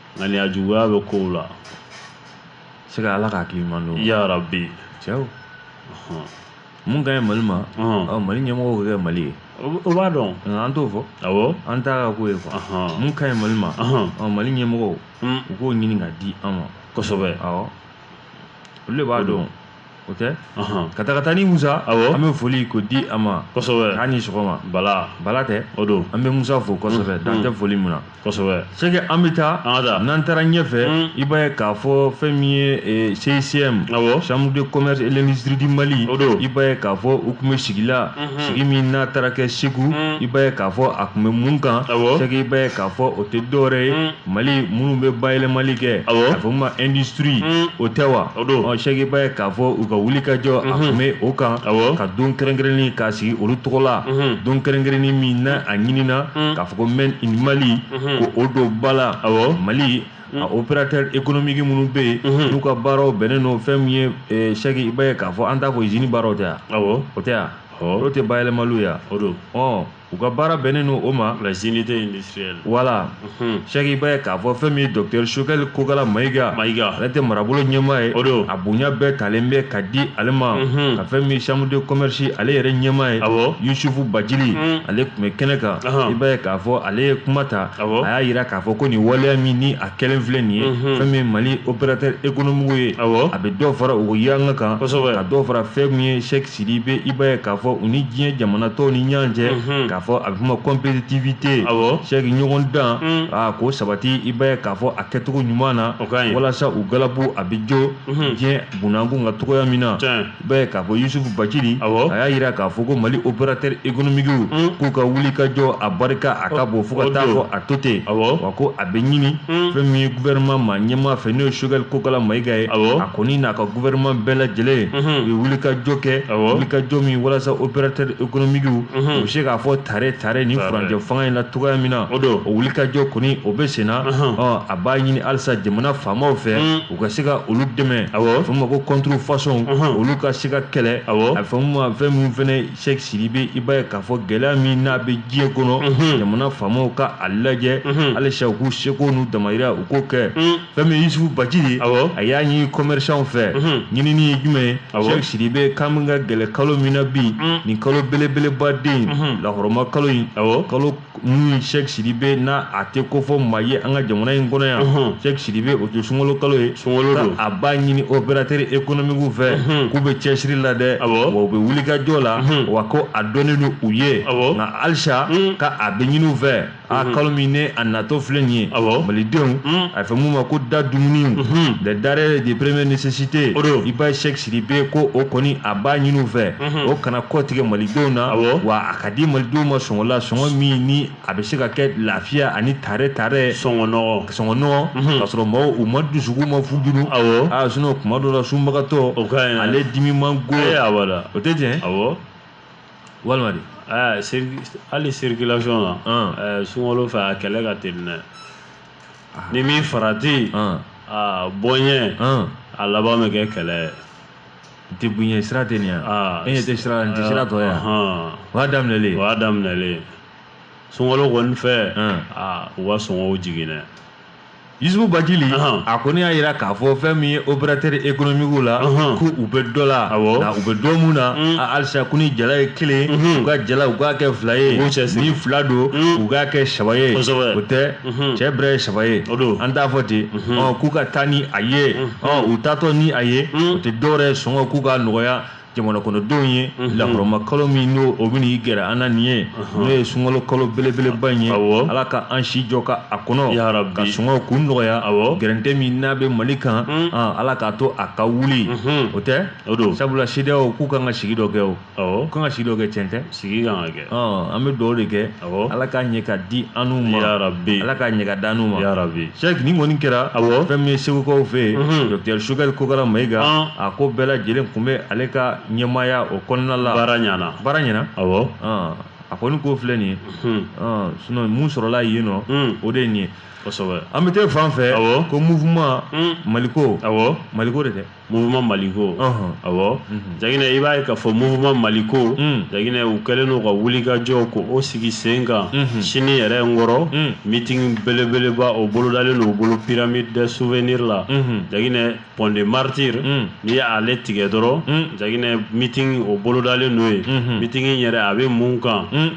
ŋaniya juguya bɛ kow la se ka ala ka hakili ɲuman don ya rabbi cɛw mun ka ɲi mali ma mali ɲɛmɔgɔw k'a kɛ mali ye o b'a dɔn an t'o fɔ awɔ an t'a ka ko ye quoi mun ka ɲi mali ma mali ɲɛmɔgɔw u k'o ɲini ka di an ma kosɛbɛ awɔ olu de b'a dɔn o tɛ ka taa ka taa ni musa awɔ an bɛ foli ko di a ma kosɛbɛ k'a ni sɔgɔma bala bala tɛ o don an bɛ musa fo kosɛbɛ dan tɛ foli min na kosɛbɛ sɛki an bɛ taa an ka taa n'an taara ɲɛfɛ i b'a ye k'a fɔ fɛn min ye CCIM awɔ chambre de commerce et l'industrie du Mali o don i b'a ye k'a fɔ u tun bɛ sigi la sigi min n'a taara kɛ Segu i b'a ye k'a fɔ a tun bɛ mun kan awɔ sɛki i b'a ye k'a fɔ o tɛ dɔwɛrɛ ye Mali minnu bɛ bayɛlɛmali kɛ a fɔ ma industrie o tɛ wa sɛki i b'a ye k'a fɔ u ka wulikajɔ a tun bɛ o kan ka don kɛrɛnkɛrɛnnen k'a sigi olu tɔgɔ la don kɛrɛnkɛrɛnnen min na a ɲinina k'a fɔ ko Made in Mali ko o don ba la mali a opérateur économique minnu bɛ yen n'u ka baaraw bɛnnen don fɛn min ye sɛki i b'a ye k'a fɔ an t'a fɔ usine baaraw tɛ yan o tɛ yan o tɛ bayɛlɛmaliw yan o don u ka baara bɛnnen don o ma les unités industrielles voilà sɛki i b'a ye k'a fɔ fɛn min ye docteur Choguel Kokala mayiga mayiga ale tɛ marabolo ɲɛmaa ye o don a bonya bɛɛ talen bɛ ka di ale ma ka fɛn min chambre de commerce ale yɛrɛ ɲɛmaa ye awɔ yusufu bacili ale tun bɛ kɛnɛ kan i b'a ye k'a fɔ ale ye kuma ta awɔ a y'a jira k'a fɔ ko nin waleya min ni a kɛlen filɛ nin ye fɛn min ye mali opérateur économique ye awɔ a bɛ dɔ fara u ka yanga kan kosɛbɛ ka dɔ fara fɛn min ye sɛki Sidibe i b'a ye k'a fɔ u ni diɲɛ jamana tɔw ni ɲɔgɔn cɛ mhm. k'a fɔ a bɛ fɔ ma compétitivité sɛki ɲɔgɔndan mm. aa k'o sabati i b'a ye k'a fɔ a kɛcogo ɲuman na walasa u galabu a bɛ jɔ mhm. diɲɛ bunakun ka cogoya min na i b'a ye k'a fɔ Yusufu Bacili a y'a jira k'a fɔ ko Mali opérateur économique mm. k'u ka wulikajɔ a barika a ka bon fo ka taa fɔ a to ten wa ko a bɛ ɲini mm. fɛn min ye gouvernement ma ɲɛmaa fɛ n'o ye Choguel Kokala Mayiga ye a kɔni n'a ka gouvernement bɛɛ lajɛlen u ye wulikajɔ kɛ wulikajɔ min walasa opérateur économique u bɛ se k'a fɔ tare tare nin furancɛ fanga in na cogoya min na o wulikajɔ kɔni o bɛ senna a b'a ɲini halisa jamana faamaw fɛ u ka se ka olu dɛmɛ a bɛ fɔ min ma ko contrefaçon olu ka se ka kɛlɛ a bɛ fɔ min ma fɛn min fɛnɛ Sɛki Sidibe i b'a ye k'a fɔ gɛlɛya min n'a bɛ diɲɛ kɔnɔ jamana faamaw ka a lajɛ halisa u k'u seko n'u damayira u k'o kɛ fɛn min ye Yusufu Bacili ye a y'a ɲini commerçants fɛ ɲinini ye jumɛn ye Sɛki Sidibe k'an bɛ ka gɛlɛ kalo min na bi nin kalo belebeleba den lahɔrɔma kalo in kalo min sɛki sidibe n'a a tɛ ko fɔ maa ye an ka jamana in kɔnɔ yan sɛki sidibe o tɛ sunkalo kalo ye sunkalo don a b'a ɲini opérateur économique fɛ k'u bɛ cɛsiri la dɛ wa u bɛ wulikajɔ la wa ko a dɔnnen don u ye nka halisa ka a bɛ ɲini u fɛ a kalo min ni a natɔ filɛ nin ye malidenw a fɛ mun ma ko da dumuniw les denrées de première nécessité i b'a ye sɛki sidibe ko o kɔni a b'a ɲini u fɛ o kana kɔtigɛ malidenw na wa a ka di malidenw ma sɔngɔ la sɔngɔ min ni a bɛ se ka kɛ lafiya ani tare tare sɔngɔ nɔgɔn ka sɔrɔ maaw u ma dusu ma funun sinɔn kuma dɔ la sunbagatɔ o ale dimi man go a la o tɛ tiɲɛ a walima hali circulation na sunkalo fɛ a kɛlɛ ka teli dɛ ni min farati aa bɔ n ɲɛ a laban bɛ kɛ kɛlɛ ye n tɛ bonya sira tɛ nin yan e ɲɛ tɛ sira n tɛ sira tɔ yan o y'a daminɛlen o y'a daminɛlen sunkalo kɔni fɛ aa u ka sɔngɔw jigin dɛ Yusufu Bacili a kɔni y'a jira k'a fɔ fɛn min ye opérateur économique la ko u bɛ dɔ la nka u bɛ dɔ mun na halisa ko ni jala ye kelen u ka jala u k'a kɛ fila ye ni fila don u k'a kɛ saba ye o tɛ Mhm. cɛ bɛrɛ ye saba ye an t'a fɔ ten mhm. k'u ka taa ni a ye mhm. u taatɔ ni a ye o tɛ dɔwɛrɛ sɔngɔ k'u ka nɔgɔya jamana kɔnɔdenw ye lahɔrɔma kalo min n'o o bɛ n'i gɛrɛ an na nin ye n'o ye sunkalo kalo belebeleba in ye ala ka an si jɔ ka a kɔnɔ ka sɔngɔw k'u nɔgɔya gɛrɛntɛ min n'a bɛ mali kan ala k'a to a ka wuli o tɛ sabula CEDEAO k'u kan ka sigi dɔ kɛ o awɔ kan ka sigi dɔ kɛ cɛn tɛ sigi kan ka kɛ ɔn an bɛ dugawu de kɛ awɔ ala k'a ɲɛ ka di an n'u ma yarabi ala k'a ɲɛ ka d'an n'u ma yarabi sɛki nin kɔni kɛra awɔ fɛn min ye segukaw fɛ yen Mhm. dɔkitɛri choguel kokala mayiga Ɔn. a ko bɛɛ lajɛlen tun bɛ ale ka ɲɛmaaya o kɔnɔna la baara ɲana baara ɲɛna awɔ ɔn a kɔni ko filɛ nin ye Mhm. ɔn sinɔn mun sɔrɔla yen nɔ Mm. o de ye nin ye kosɛbɛ an bɛ taa fan fɛ Awɔ. ko mouvement Mm. maliko awɔ maliko de tɛ Mouvement Mali ko, ɔnhɔn, awɔ, unhun, Jaginɛ i b'a ye k'a fɔ Mouvement Mali ko, un, Jaginɛ u kɛlen don ka wulikajɔ ko o sigi sen kan, unhun, sini yɛrɛ n kɔrɔ, un, meeting belebeleba o bolodalen don u bolo pyramide des souvenirs la, unhun, Jaginɛ pont des martyrs, un, n'i ye ale tigɛ dɔrɔn, un, Jaginɛ meeting o bolodalen don yen, unhun, meeting in yɛrɛ a bɛ mun kan, un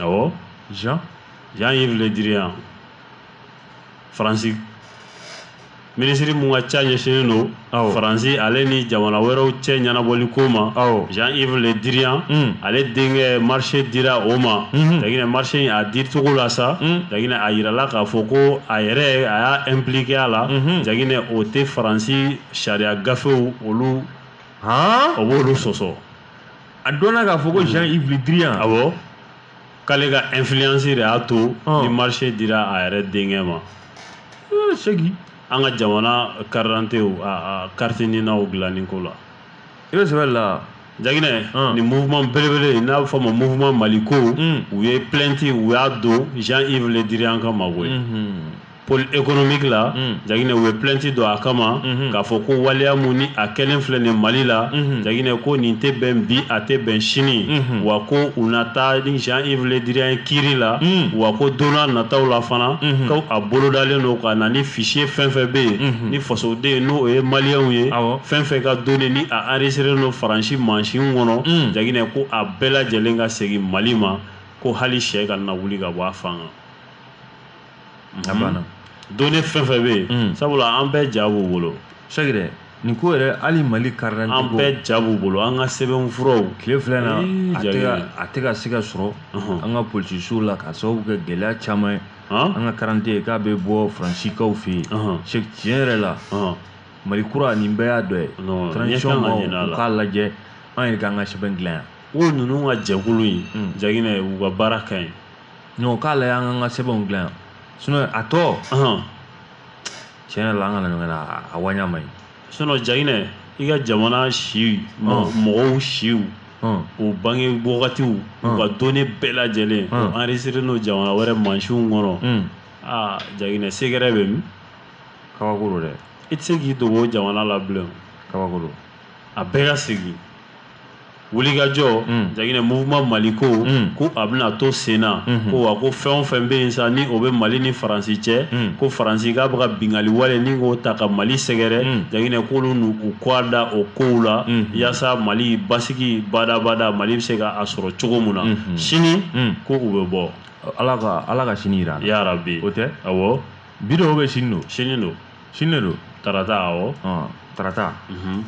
awɔ jean jean yves le drian faransi minisiri min ka ca ɲɛsinnen don faransi ale ni jamana wɛrɛw cɛ ɲɛnabɔli ko ma jean yves le drian hmm. ale denkɛ marché dira o ma hmm. jaginɛ marché in a dicogo la sa jaginɛ hmm. a yirala k'a fɔ ko a yɛrɛ a y'a impliqué a la jaginɛ o tɛ faransi sariya gafew olu o b'olu sɔsɔ a dɔnna k'a fɔ ko jean yves le drian awɔ k'ale ka influence de y'a to ni marché dira a yɛrɛ denkɛ ma seki an ka jamana karidantew a carte ninaw dilanni ko la i bɛ sɛbɛn la jaginɛ nin mouvement belebele n'a bɛ fɔ a ma mouvement maliko u ye plainte u y'a don jean yves le drian ka mago ye pôle économique la mm. Jaginɛ u ye plainte don a kama mm-hmm. k'a fɔ ko waleya mun ni a kɛlen filɛ nin Mali la mm-hmm. Jaginɛ ko nin tɛ bɛn bi a tɛ bɛn sini mm-hmm. wa ko u na taa ni Jean-Yves Le Drian kiiri la mm. wa ko don n'a nataw la fana ko a bolodalen don ka na ni fichier fɛn fɛn bɛ yen ni fasoden n'o ye maliyɛnw ye fɛn fɛn ka données ni a enregistré don Faransi mansin kɔnɔ mm. Jaginɛ ko a bɛɛ lajɛlen ka segin Mali ma ko hali sɛ kana wuli ka bɔ a fan kan a banna données fɛn fɛn bɛ yen sabula an bɛɛ ja b'u bolo sɛgɛ dɛ nin ko yɛrɛ hali mali karidante an bɛɛ ja b'u bolo an ka sɛbɛnfuraw tile fila in na a tɛ ka se ka sɔrɔ an ka polisiw la k'a sababu kɛ gɛlɛya caman ye an ka karidante k'a bɛ bɔ faransikaw fɛ yen sɛ tiɲɛ yɛrɛ la mali kura nin bɛɛ y'a dɔ ye an k'a lajɛ an yɛrɛ k'an ka sɛbɛn dilan yan o ninnu ka jɛkulu in jaginɛ u ka baara ka ɲi non k'a lajɛ an ka sɛbɛnw dilan yan a tɔ tiɲɛ yɛrɛ la an kana ɲɔgɔn na a waɲa man ɲi jaginɛ i ka jamana si mɔgɔw siw o bange wagatiw u ka données bɛɛ lajɛlen o enregistré don jamana wɛrɛ mansinw kɔnɔ aa jaginɛ secret bɛ min kabako don dɛ i tɛ se k'i dogo o jamana la bilen kabako don a bɛɛ ka segin wulikajɔ mm. jaginɛ mouvement maliko mm. ko a bɛna to sen na mm-hmm. ko wa ko fɛn o fɛn bɛ yen sa ni o bɛ mali ni faransi cɛ mm. ko faransi k'a bɛ ka bingali wale ni k'o ta ka mali sɛgɛrɛ jaginɛ k'olu n'u kɔ da o kow la mm-hmm. yaasa mali basigi badabada mali bɛ se ka a sɔrɔ cogo min na mm-hmm. sini ko u bɛ bɔ ala ka ala ka sini jira an na ya rabi o tɛ awɔ bi dɔw bɛ sini don sini don sini don tarata awɔ ɔn tarata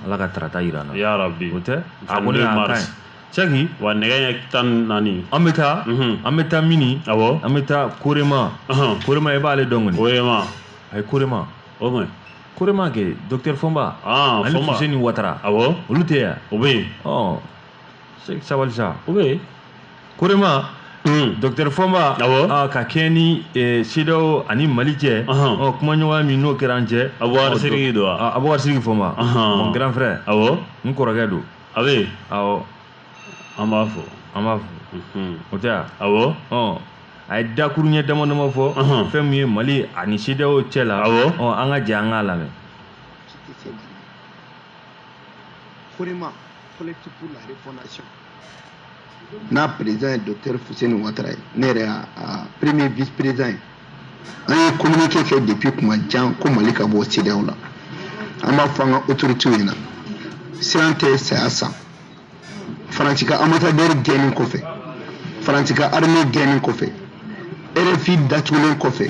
ala ka tarata yira an na ya rabi o tɛ a kɔni y'a ka ɲi cɛki wa nɛgɛ ɲɛ tan naani an bɛ taa an bɛ taa mini awɔ an bɛ taa korema korema i b'ale dɔn kɔni korema a ye korema o kɔni korema kɛ docteur fɔnba ani fuseni watara awɔ olu tɛ yan o bɛ yen ɔ sabali sa o bɛ korema docteur fɔnba ka kɛɲɛ ni cedeao ani mali cɛ kumaɲɔgɔnya min n'o kɛra an cɛ a don abubakar sidiki fɔnba mon grand frère n kɔrɔkɛ don a bɛ an b'a fɔ an b'a fɔ o tɛ awɔ a ye dakuru ɲɛ dama damaw fɔ fɛn min ye mali ani cedeao cɛ la an ka jɛ an k'a lamɛn collectif pour la refondation n'a président ye docteur fuseni watara ye ne yɛrɛ y'a premier vice président ye an ye communiqué kɛ depuis kuma jan ko mali ka bɔ CEDEAO la an b'a fɔ an ka autoritéw ɲɛna siran tɛ saya sa faransi ka ambassadeur gɛnni kɔfɛ faransi ka armée gɛnni kɔfɛ rfi datugulen kɔfɛ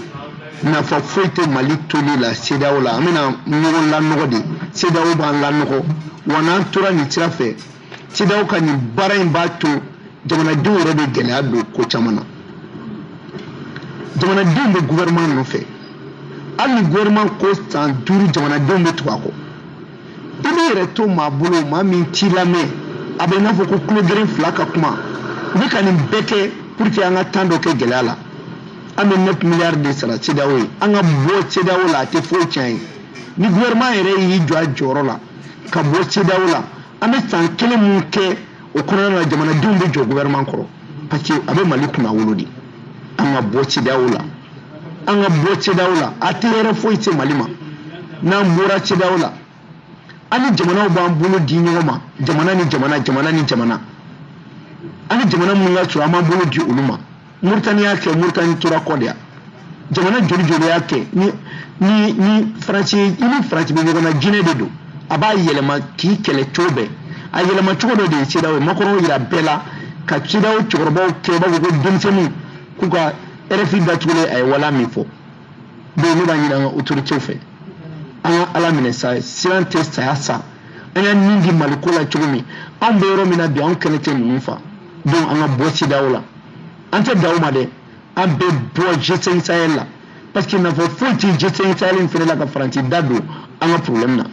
nafa foyi tɛ mali toli la CEDEAO la an bɛna ɲɔgɔn lanɔgɔ de CEDEAO b'an lanɔgɔ wa n'an tora nin sira fɛ CEDEAO ka nin baara in b'a to jamanadenw yɛrɛ bɛ gɛlɛya don ko caman na jamanadenw bɛ gouvernement nɔfɛ hali ni gouvernement ko san duuru jamanadenw bɛ tugu a kɔ i b'i yɛrɛ to maa bolo maa min t'i lamɛn a bɛ i n'a fɔ ko tulo geren fila ka kuma u bɛ ka nin bɛɛ kɛ pour que an ka temps dɔ kɛ gɛlɛya la an bɛ neuf milliards de sara CEDEAO ye an ka bɔ CEDEAO la a tɛ foyi tiɲɛ an ye ni gouvernement yɛrɛ y'i jɔ a jɔyɔrɔ la ka bɔ CEDEAO la an bɛ san kelen min kɛ o kɔnɔna na jamanadenw bɛ jɔ gouvernement kɔrɔ parce que a bɛ mali kunna wolo de an ka bɔ CEDEAO la an ka bɔ CEDEAO la a tɛ hɛrɛ foyi se mali ma n'an bɔra CEDEAO la an ni jamanaw b'an bolo di ɲɔgɔn ma jamana ni jamana jamana ni jamana an ni jamana minnu ka surun an b'an bolo di olu ma Mauritanie y'a kɛ Mauritanie tora kɔ de ya jamana joli joli y'a kɛ ni ni ni Faransi i ni Faransi bɛ ɲɔgɔn na jinɛ de don a b'a yɛlɛma k'i kɛlɛ cogo bɛɛ a yɛlɛma cogo dɔ de ye CEDEAO ye Macron yira bɛɛ la ka CEDEAO cɛkɔrɔbaw kɛ i b'a fɔ ko denmisɛnninw k'u ka RFI datugulen a ye wala min fɔ donc ne b'a ɲini an ka autorités fɛ an ka ala minɛ sa siran tɛ saya sa an y'an nin di Mali ko la cogo min anw bɛ yɔrɔ min na bi anw kɛnɛ tɛ ninnu fa donc an ka bɔ CEDEAO la an tɛ dan o ma dɛ an bɛ bɔ G5 Sahel la parce que nafa foyi tɛ G5 Sahel in fana la ka Faransi da don an ka problème na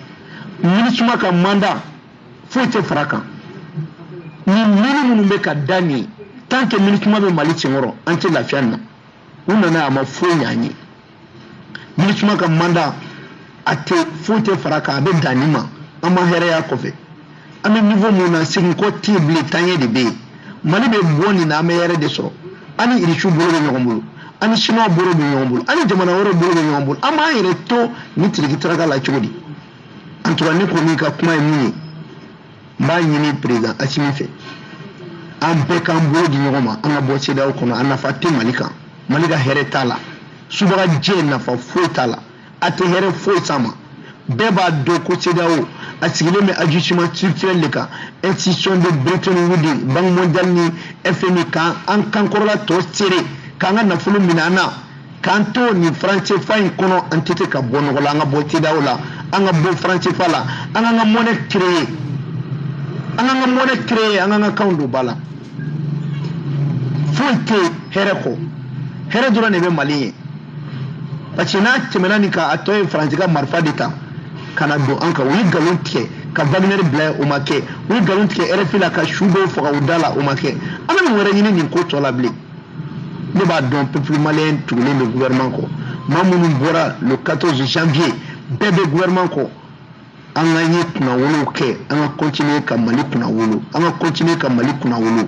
MINUSMA ka mandat foyi tɛ fara a kan ni mine minnu bɛ ka da nin tant que MINUSMA bɛ Mali senkɔrɔ an tɛ lafiya nin na u nana a ma foyi ɲɛ an ye. MINUSMA ka mandat a tɛ foyi tɛ fara kan a bɛ dan nin ma an ma hɛrɛya kɔfɛ an bɛ niveau min na seginkɔ tɛ yen bilen taɲɛ de bɛ yen mali bɛ bɔ nin na an bɛ hɛrɛ de sɔrɔ an ni irisiw bolo bɛ ɲɔgɔn bolo an ni siniwaw bolo bɛ ɲɔgɔn bolo an ni jamana wɛrɛw bolo bɛ ɲɔgɔn bolo an b'an yɛrɛ to nin tiriki taraka la cogo di en tout cas ne kɔni ka kuma ye min ye n b'a ɲini président asimi fɛ an bɛɛ k'an bolo di ɲɔgɔn ma an ka bɔ CEDEAO kɔnɔ a nafa tɛ mali kan mali ka hɛrɛ t'a la subagajɛ nafa foyi t'a la a tɛ hɛrɛ foyi s'an ma bɛɛ b'a dɔn ko CEDEAO a sigilen bɛ ajustement structurel de kan institution de bretton woods banque mondiale ni fmi k'an kankɔrɔla tɔ seere k'an ka nafolo minɛ an na k'an to nin franc cfa in kɔnɔ an tɛ se ka bɔ nɔgɔ la an ka bɔ cedeao la an ka bɔ franc cfa la an k'an ka monnaie créer an k'an ka monnaie créer an k'an ka kanw don ba la foyi tɛ hɛrɛ kɔ hɛrɛ dɔrɔn de bɛ mali ye parce que n'a tɛmɛna nin kan a tɔ ye faransi ka marifa de ta ka na don an kan u ye nkalon tigɛ ka wagner bila o ma kɛ u ye nkalon tigɛ rfi la ka su dɔw faga u da la o ma kɛ an bɛ mun wɛrɛ ɲini nin ko tɔ la bilen ne b'a dɔn peuple malien tugulen bɛ gouvernement kɔ maa minnu bɔra le 14 janvier bɛɛ bɛ gouvernement kɔ an ka ye kunnawolow kɛ an ka continuer ka mali kunnawolo an ka continuer ka mali kunnawolo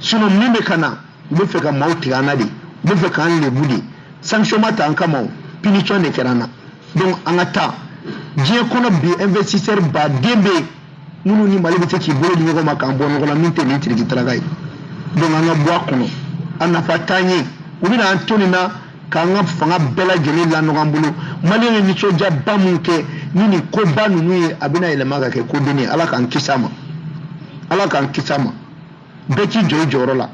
sinon min bɛ ka na u bɛ fɛ ka maaw tigɛ an na de u bɛ fɛ k'an lebu de sanction ma ta an kama o punition de kɛra an na donc an ka taa diɲɛ kɔnɔ bi investisseur baden bɛ yen minnu ni mali bɛ se k'i bolo di ɲɔgɔn ma k'an bɔ nɔgɔ la min tɛ nin tiriki taraka ye donc an ka bɔ a kɔnɔ a nafa t'an ye u bɛna an to nin na k'an ka fanga bɛɛ lajɛlen lanɔgɔ an bolo maliyɛnw ye nisɔndiyaba min kɛ ni nin koba ninnu ye a bɛna yɛlɛma ka kɛ kodennin ye ala k'an kisi a ma ala k'an kisi a ma bɛɛ k'i jɔ i jɔyɔrɔ la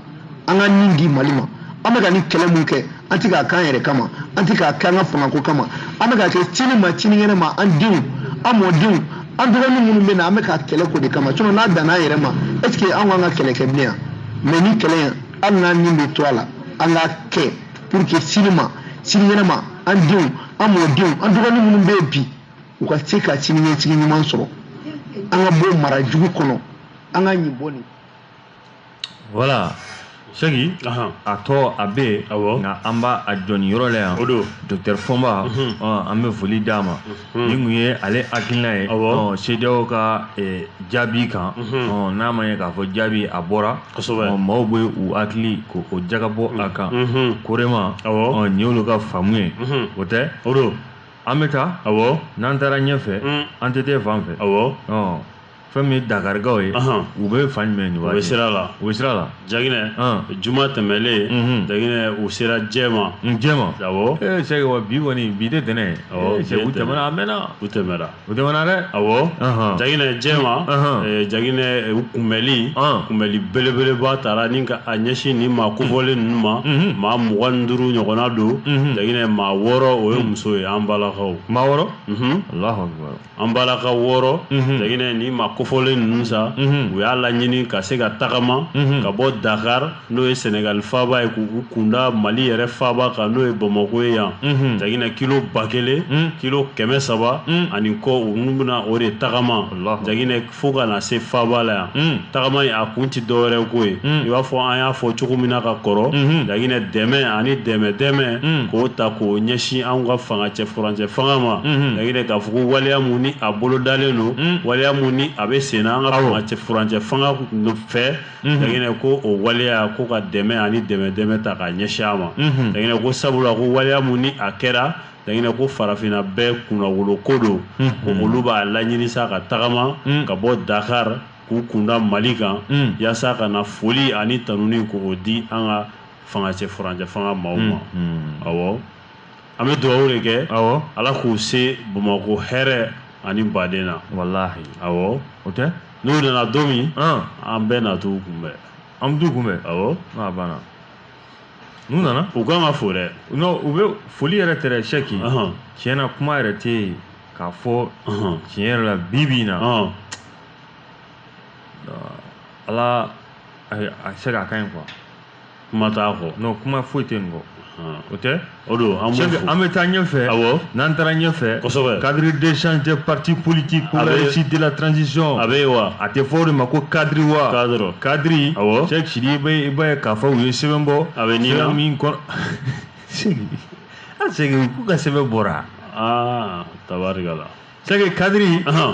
an k'an ni di mali ma an bɛ ka nin kɛlɛ min kɛ an tɛ k'a k'an yɛrɛ kama an tɛ k'a kɛ an ka fangako kama an bɛ k'a kɛ sini ma sinikɛnɛ ma an denw an mɔdenw an dɔgɔnin minnu bɛ na an bɛ ka kɛlɛ k'o de kama sinon n'a danna an yɛrɛ ma est ce que an k'an ka kɛlɛ kɛ bilen yan mais nin kɛlɛ in hali n'an ni bɛ to a la an k'a kɛ pour que sini ma sinikɛnɛ ma an denw an mɔdenw an dɔgɔnin minnu bɛ yen bi u ka se ka siniɲɛsigi ɲuman sɔrɔ an ka bɔ mara jugu kɔnɔ an ka ɲin bɔ nin voilà sɛki a tɔ a bɛ yen nka an b'a jɔ nin yɔrɔ la yan o don docteur fɔnba mhm. an bɛ foli d'a ma mhm. nin tun ye ale hakilina ye cedeao ka e, jaabi kan mhm. n'a ma ɲɛ k'a fɔ jaabi a bɔra maaw bɛ u hakili ko o jagabɔ a kan korema nin y'olu ka faamu ye o tɛ o don an bɛ taa n'an taara ɲɛfɛ an tɛ taa fan fɛ fɛn min ye dakarikaw ye u bɛ fan jumɛn u bɛ sira la u bɛ sira la jaginɛ juma tɛmɛlen jaginɛ u sera jɛma jɛma awɔ ee sɛki wa bi kɔni bi tɛ tɛnɛn ye u tɛmɛna a mɛnna u tɛmɛna u tɛmɛna dɛ awɔ jaginɛ jɛma jaginɛ u kunbɛli kunbɛli belebeleba taara ni ka a ɲɛsin nin maa kofɔlen ninnu ma maa mugan ni duuru ɲɔgɔnna don jaginɛ maa wɔɔrɔ o ye muso ye an balakaw maa wɔɔrɔ an balakaw wɔɔrɔ jaginɛ nin maa kofɔlen ninnu sa u y'a laɲini ka se ka tagama ka bɔ dakari n'o ye sɛnɛgali faaba ye k'u kunda mali yɛrɛ faaba kan n'o ye bamakɔ ye yan jaginɛ kilo ba kelen kilo kɛmɛ saba ani kɔ olu bɛna o de tagama jaginɛ fo ka na se faaba la yan mm. tagama in a kun tɛ dɔwɛrɛ ko ye mm. i b'a fɔ an y'a fɔ cogo min na ka kɔrɔ mm-hmm. jaginɛ dɛmɛ ani dɛmɛdɛmɛ mm. k'o ta k'o ɲɛsin anw ka fanga cɛ furancɛ fanga ma mm-hmm. jaginɛ k'a fɔ ko waleya mun ni a bolodalen don waleya mun ni a bɛ senna an ka fanga cɛ furancɛ fanga fɛ mm-hmm. jaginɛ ko o waleya ko ka dɛmɛ ani dɛmɛdɛmɛ ta k'a ɲɛsin a ma jaginɛ ko sabula ko waleya mun ni a kɛra jaginɛ ko farafinna bɛɛ kunnawolo ko don mhm. olu b'a laɲini sa ka tagama mm. ka bɔ dakar k'u kunda mali kan mm. yasa ka na foli ani tanuni k'o di an ka fangacɛ furancɛ fanga maaw ma mm-hmm. awɔ an bɛ dugawu de kɛ awɔ ala k'u se bamakɔ hɛrɛ ani baden na walahi awɔ o tɛ n'u nana don min an bɛɛ na t'u kunbɛn an bɛ t'u kunbɛn awɔ n'a banna n'u nana u kan ka fo dɛ non u bɛ foli yɛrɛ tɛ dɛ sɛki tiɲɛ na kuma yɛrɛ tɛ yen k'a fɔ tiɲɛ yɛrɛ la bi bi in na ala a se k'a ka ɲi quoi kuma t'a kɔ non kuma foyi tɛ nin kɔ o tɛ o don an b'u fo an bɛ taa ɲɛfɛ awɔ n'an taara ɲɛfɛ kosɛbɛ cadre d'échange des partis politiques pour la réussite de la transition a bɛ yen wa a tɛ fɔ o de ma ko cadre wa cadre cadre awɔ Cheikh Sidibe i b'a ye k'a fɔ u ye sɛbɛn bɔ a bɛ ni sɛbɛn min kɔnɔ Sidi a Sidi k'u ka sɛbɛn bɔra aa tabarikala sɛki cadre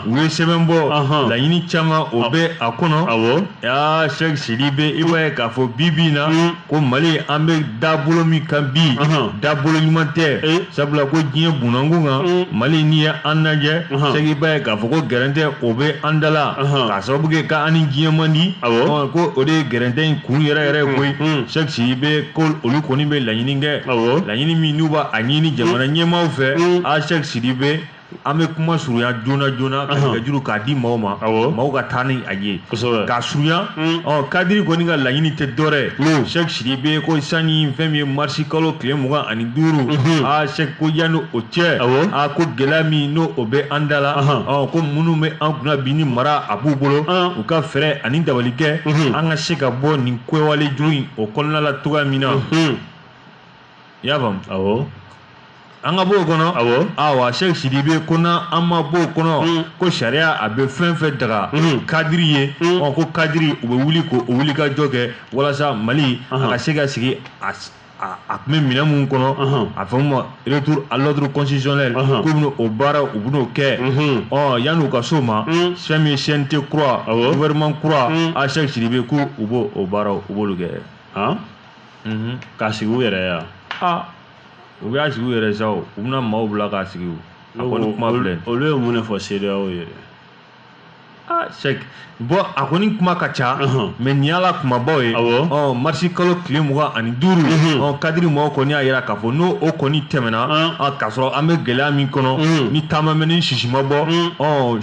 u ye sɛbɛn bɔ laɲini caman o bɛ a kɔnɔ awɔ aa sɛk sidibe i b'a ye k'a fɔ bi bi in na ko mali an bɛ dabolo min kan bi dabolo ɲuman tɛ e. sabula ko diɲɛ bunnankun kan mali n'i ye an lajɛ sɛk i b'a ye k'a fɔ ko gɛrɛntɛ o bɛ an da la k'a sababu kɛ ka an ni diɲɛ man di awɔ ko o de ye gɛrɛntɛ in kun yɛrɛ yɛrɛ ye koyi sɛk sidibe ko olu kɔni bɛ laɲini kɛ awɔ laɲini min n'u b'a ɲini jamana ɲɛmaaw fɛ a sɛk sidibe an bɛ kuma surunya joona joona ka nɛgɛjuru k'a di maaw ma maaw ka taa ni a ye k'a surunya hmm. ɔ cadre kɔni ka laɲini tɛ dɔrɛ hmm. sɛk sidibe ko sanni fɛn min ye marisi kalo tile mugan ani duuru hmm. aa sɛk ko yanni o cɛ aa ko gɛlɛya min ni o bɛ an da la ɔ ko minnu bɛ an kunna bi ni mara a b'u bolo u ka fɛɛrɛ ani dabali kɛ an ka se ka bɔ nin kɛwale jugu in o kɔnɔna la cogoya min na i y'a faamu awɔ an ka bɔ o kɔnɔ awɔ awa sɛki sidibe ko n'an ma bɔ o kɔnɔ ko sariya a bɛ fɛn fɛn daga cadre ye ɔ ko cadre u bɛ wuli k'o wulikajɔ kɛ walasa mali a ka se ka segin a s- a a tun bɛ minɛn minnu kɔnɔ a f'a ma retour à l'ordre constitutionnel k'u bɛna o baara u bɛn'o kɛ ɔ yanni u ka s'o ma fɛn min ye CNT kura gouvernement kura a sɛki sidibe ko u b'o baaraw u b'olu kɛ han k'a sigi u yɛrɛ yan aa u b'a sigi u yɛrɛ sa u bɛna maaw bila k'a sigi a kɔni kuma filɛ olu ye mun de fɔ CEDEAO ye aa Sɛki bon a kɔni kuma ka ca mais nin y'a la kumabaw ye marisi kalo tile mugan ani duuru kadiri maaw kɔni y'a jira k'a fɔ n'o o kɔni tɛmɛna k'a sɔrɔ an bɛ gɛlɛya min kɔnɔ ni ta ma mɛnɛ sisi ma bɔ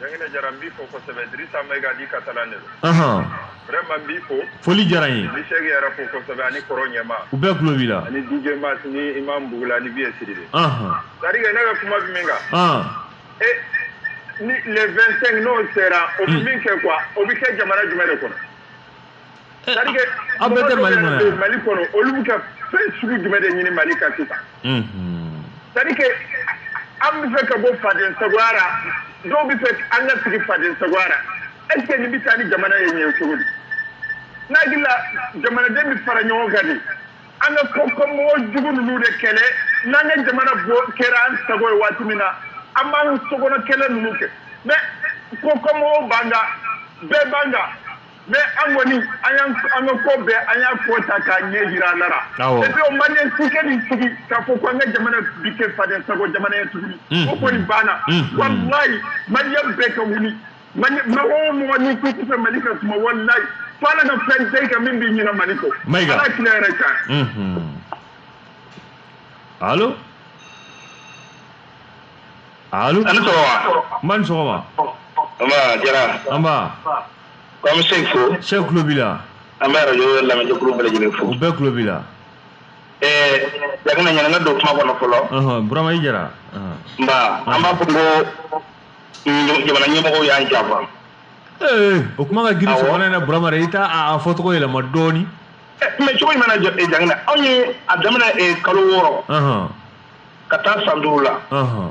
Jangina Jara n b'i fo kosɛbɛ Dirisa Mayiga dit Katalan de don. Ɔnhɔn. Vraiment n b'i fo. Foli diyara n ye. N bɛ Sɛki yɛrɛ fo kosɛbɛ ani kɔrɔ ɲɛma. U bɛɛ tulo b'i la. Ani DJ Max ni Imam Bugula ani Biye Sidibe. Ɔnhɔn. C'est à dire que ne bɛ kuma bɛ min kan. Ɔn. E ni le 25 n'o sera o bɛ min kɛ quoi o bɛ kɛ jamana jumɛn de kɔnɔ? C'est à dire que aw bɛɛ tɛ mali kɔnɔ yan mali kɔnɔ olu bɛ ka fɛn sugu jumɛn de ɲini mali kan sisan c'est à dire que an bɛ fɛ ka bɔ faden sagoya la dɔw bɛ fɛ an ka sigi faden sagoya la est ce que nin bɛ taa ni jamana ye ɲɛ cogo di n hakili la jamanaden bɛ fara ɲɔgɔn kan de an ka kɔkanmɔgɔ jugu ninnu de kɛlɛ n'an ka jamana bɔ kɛra an sago ye waati min na an b'an sokɔnɔ kɛlɛ ninnu kɛ mais kɔkanmɔgɔw b'an kan bɛɛ b'an kan mais an kɔni an y'an an ka ko bɛɛ an y'a ko ta k'a ɲɛ jira Ala ra et puis o maliyɛn si tɛna sigi k'a fɔ ko an ka jamana bi kɛ faden sago jamana ye tuguni o kɔni banna walayi maliyɛn bɛɛ ka wuli mɔgɔ o mɔgɔ n'i ko k'i fɛ mali ka suma walayi fo ala ka fɛn da i kan min b'i ɲinɛ mali kɔ ala tila yɛrɛ kan alo alo n ba ni sɔgɔma nba K'an bɛ Sɛki fo Sɛki tulo b'i la an bɛ arajo lamɛnjɛkulu bɛɛ lajɛlen fo u bɛɛ tulo b'i la ɛɛ Jangina yanni n ka don kuma kɔnɔ fɔlɔ ɔhɔn Burama i Jara ɔhɔn nba an b'a fɔ ko mm, jamana ɲɛmɔgɔw y'an janfa ee o kuma ka girin Awɔ. sɔgɔmada in na Burama dɛ i t'a a a fɔcogo yɛlɛma dɔɔni Ɛ, mais cogo jumɛn na Ja- eh, Jangina anw ye a daminɛ eh, kalo wɔɔrɔ ɔhɔn ka taa san duuru la ɔhɔn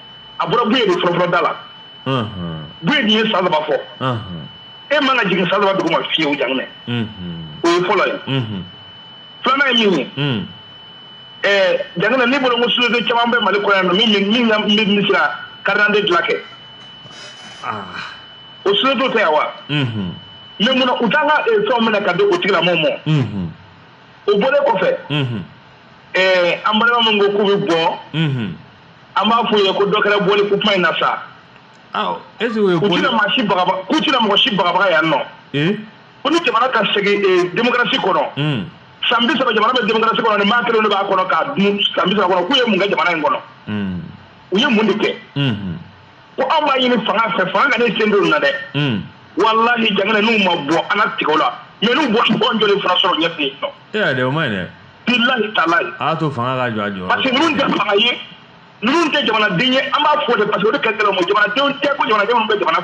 a bɔra buye de fɔlɔfɔlɔ da la buye dun ye san saba fɔ e man ka jigin san saba duguma fiyewu Jangina o ye fɔlɔ ye filanan ye min ye Jangina ne bolo ko société caman bɛ mali kɔnɔ yan nɔ min min ka min bɛ se ka carte d'identité dilan kɛ o société tɛ yan wa mais mun na u t'an ka fɛnw minɛ ka di o tigilamɔgɔw ma o bɔlen kɔfɛ an balima min ko k'u bɛ bɔ an b'a f'u ye ko dɔ kɛra bɔli ko kuma in na sa aw est-ce que o ye u tɛna maa si bagaba k'u tɛna mɔgɔ si bagabaga yan nɔ ee ko ni jamana ka segin ee démocratie kɔnɔ un san bi saba jamana bɛ démocratie kɔnɔ ni maa kelen de b'a kɔnɔ k'a dun san bi saba kɔnɔ k'u ye mun kɛ jamana in kɔnɔ un u ye mun de kɛ un ko anw b'a ɲini fanga fɛ fanga ka n'i sen don nin na dɛ un walahi Jakina n'u ma bɔ an na tigɛ o la mais n'u bɔra u b'an jɔlen fana sɔrɔ ɲɛ fɛ yen nɔ e y'a dɛ o man ɲi dɛ bilahi talahi. A y'a to fanga ka jɔ a jɔ. Parce que ninnu tɛ fanga ye ninnu tɛ jamanaden ye an b'a fɔ de parce que o de ka gɛlɛn u ma jamanadenw tɛ ko jamanadenw bɛ jamana.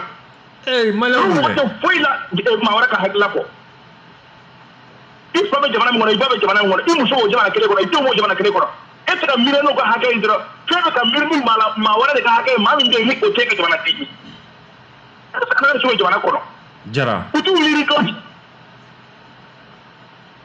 Ee maliyɛnw bɛ. Olu tɛ foyi la eh, maa wɛrɛ ka hakilila kɔ. I fa bɛ jamana min kɔnɔ i ba bɛ jamana min kɔnɔ i muso b'o jamana kelen kɔnɔ i denw b'o jamana kelen kɔnɔ e tɛ ka miiri n'o ka hakɛ ye dɔrɔn f'e bɛ ka miiri min b'a la maa wɛrɛ de ka hakɛ ye maa min bɛ yen ni o t'i ka jamanaden ye. E tɛ se ka jamana kɔnɔ. Jara. U t'u miiri dɔɔni.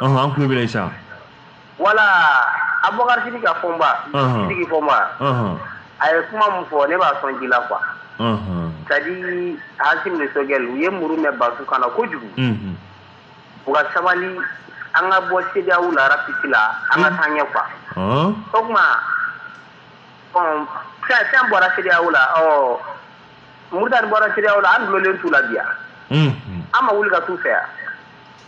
an tulo b'i la Isa voilà Abubakar Sidiki Fɔnba Sidiki Fɔnba a ye kuma min fɔ ne b'a sɔn ji la quoi c'est-à-dire Assimi ni Choguel u ye muru mɛn batu kan na kojugu u ka sabali an ka bɔ CEDEAO la rapide la an ka taa ɲɛ quoi o tuma fɛn bɔra CEDEAO la ɔ Moritani bɔra CEDEAO la an dulonnen t'u la bi yan an ma wuli ka t'u fɛ yan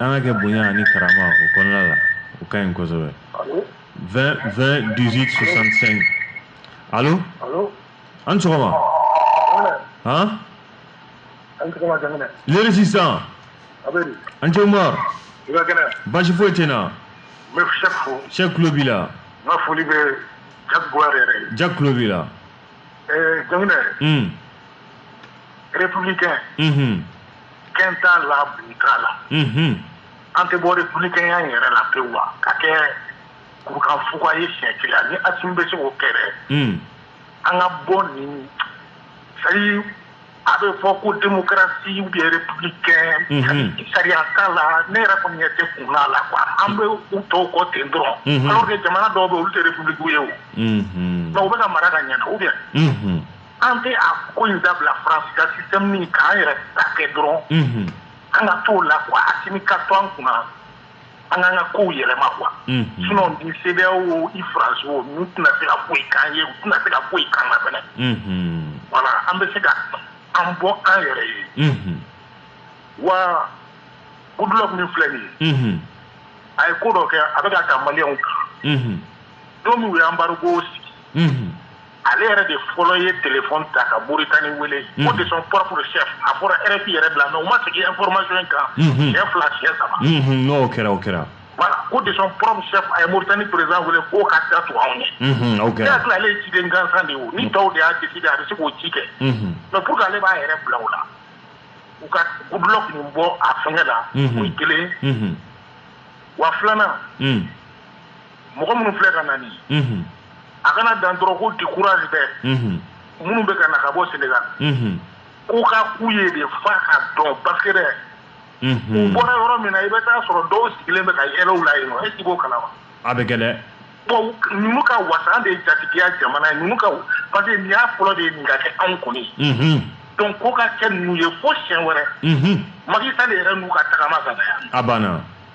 An k'a kɛ bonya ani karama o kɔnɔna la o ka ɲi kosɛbɛ 20 20 18 65 allo an ni sɔgɔma han Le résistant an cɛ Umaru baasi foyi tɛ n na Sɛki tulo b'i la Ja ja tulo b'i la jamu rep kɛ kɛ n t'a la k'a la an tɛ bɔra bkɛya in yɛrɛ la pe wa ka kɛ kurukan fug ye sɛti ni a tun bɛ se o kɛ an ka bɔ nin sa a bɛ fɔ ko démocratie ou bien républicain sariya t'a la ne yɛrɛ kɔni ɲɛ tɛ kun na la quoi an bɛ u tɔw kɔ ten dɔrɔn alors que jamana dɔw bɛ olu tɛ république ye o mais u bɛ ka mara ka ɲɛ ou bien an tɛ a ko in dabila France ka système nin k'an yɛrɛ ta kɛ dɔrɔn an ka t'o la quoi Assimi ka to an kunna an k'an ka kow yɛlɛma quoi sinon ni CEDEAO i faransi wo n'u tɛna se ka foyi k'an ye u tɛna se ka foyi k'an na fɛnɛ voilà an bɛ se ka an bɔ an yɛrɛ ye wa Goodluck min filɛ nin ye a ye ko dɔ kɛ a bɛ ka taa maliyɛnw kan don min u ye embargo sigi ale yɛrɛ de fɔlɔ ye telefɔni ta ka moritani wele ko de son propre chef a fɔra rfi yɛrɛ bila mais u ma segin information in kan siɲɛ fila siɲɛ saba n'o kɛra o kɛra voilà ko de son propre chef a ye moritani président wele k'o ka da tugu anw ye o kɛra hakili ale ye ciden gansan de ye o ni tɔw de y'a décider a bɛ se k'o ci kɛ mais pour que ale b'a yɛrɛ bila o la u ka Goodluck nin bɔ a fɛngɛ la o ye kelen wa filanan mɔgɔ minnu filɛ ka na nin a kana dan dɔrɔn ko décourage bɛ minnu bɛ ka na ka bɔ Sénégal k'u ka k'u ye de f'a ka dɔn parce que dɛ u bɔra yɔrɔ min na i bɛ taa sɔrɔ dɔw sigilen bɛ ka yɛlɛ u la yen non est-ce que i b'o kalama a bɛ kɛ dɛ bon ninnu ka wasa de ye jatigiya jamana ye ninnu ka parce que nin y'a fɔlɔ de ye nin ka kɛ anw kɔni donc ko ka kɛ ninnu ye fo siɲɛ wɛrɛ Macky Sall yɛrɛ n'u ka tagama ka na yan a banna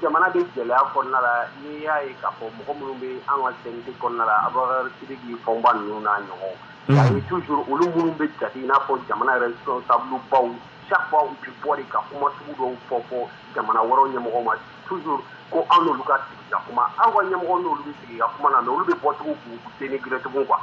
jamana bɛ gɛlɛya kɔnɔna la n'i y'a ye k'a fɔ mɔgɔ minnu bɛ an ka sɛnɛti kɔnɔna la a bɛtigi fɔba ninnu n'a ɲɔgɔn tu juru olu minnu bɛ jate i n'a fɔ jamana yɛrɛ sɔn sababu baw safa bɛ bɔ ka kuma sugu dɔw fɔ fɔ jamana wɔɔrɔ ɲɛmɔgɔ ma tu ko anwolu ka kuma aw ka ɲɛmɔgɔ n' sigi ka kuma na olu bɛ bɔcogo sen gcogo kan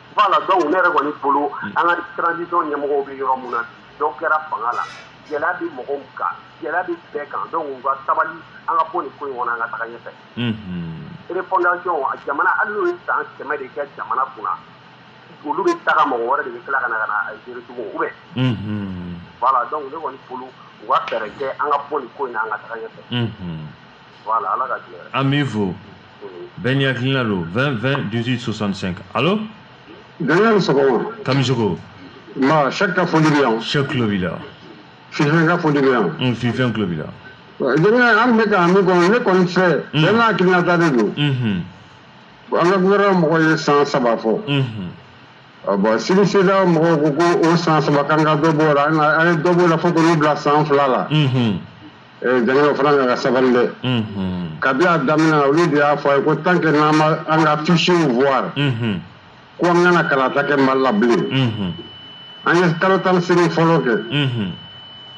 Voilà donc ne yɛrɛ kɔni bolo hmm. an ka transition ɲɛmɔgɔw bɛ yɔrɔ min na dɔ kɛra fanga la gɛlɛya bɛ mɔgɔw kan gɛlɛya bɛ bɛɛ kan donc u ka sabali an ka bɔ nin ko in kɔnɔ an ka taga ɲɛfɛ hmm. refondation a jamana hali n'u ye san kɛmɛ de kɛ jamana kunna olu bɛ taga mɔgɔ wɛrɛ de bɛ tila ka na ka na a gérer tugun ou bien hmm. voilà donc ne kɔni bolo u ka fɛɛrɛ kɛ an ka bɔ nin ko in na an ka taga ɲɛfɛ an b'i fo bɛɛ n'i hakilina don 20 20 18 65 alo Daniel sɔgɔma Kamisogo ma Sɛk ka foli bɛ yan Sɛk tulo b'i la Fifɛn ka foli bɛ yan un Fifɛn tulo b'i la Daniel an bɛ ka min kɔnɔ ne kɔni fɛ bɛɛ n'a hakilinata de don an ka gouvernement mɔgɔ ye san saba fɔ bon sini CEDEAO mɔgɔw ko ko o san saba k'an ka dɔ b'o la an ye dɔ b'o la fo k'olu bila san fila la Jeliw fana nana sabali dɛ kabi y'a daminɛ olu de y'a fɔ a ye ko tan kɛ n'an an ka tusiw fwa ko an kana kalata kɛ ma labilen an ye kalo tan siri fɔlɔ kɛ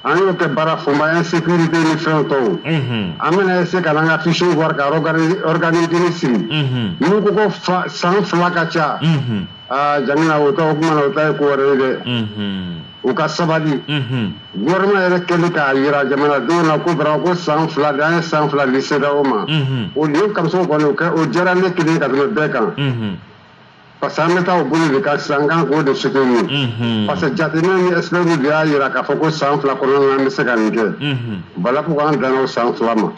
an y'o kɛ baara fɔma an ye se den ni fɛn tɔw an bɛna se ka an ka tusiw fɔ kakanidini siri n ko ko san fila ka ca aa ja o o taa ye ko wɛrɛ ye dɛ u ka sabali gouvernement yɛrɛ kɛlen k'a jira jamanadenw na ko vraiment ko san fila de an ye san fila di CEDEAO ma o nin Kamisogo kɔni o diyara ne kelen ka tɛmɛ bɛɛ kan parce que an bɛ taa o bolo de kan sisan an kan k'o de soutenir parce que jateminɛ ni experts de y'a jira k'a fɔ ko san fila kɔnɔ an bɛ se ka nin kɛ voilà pourquoi an danna o san fila ma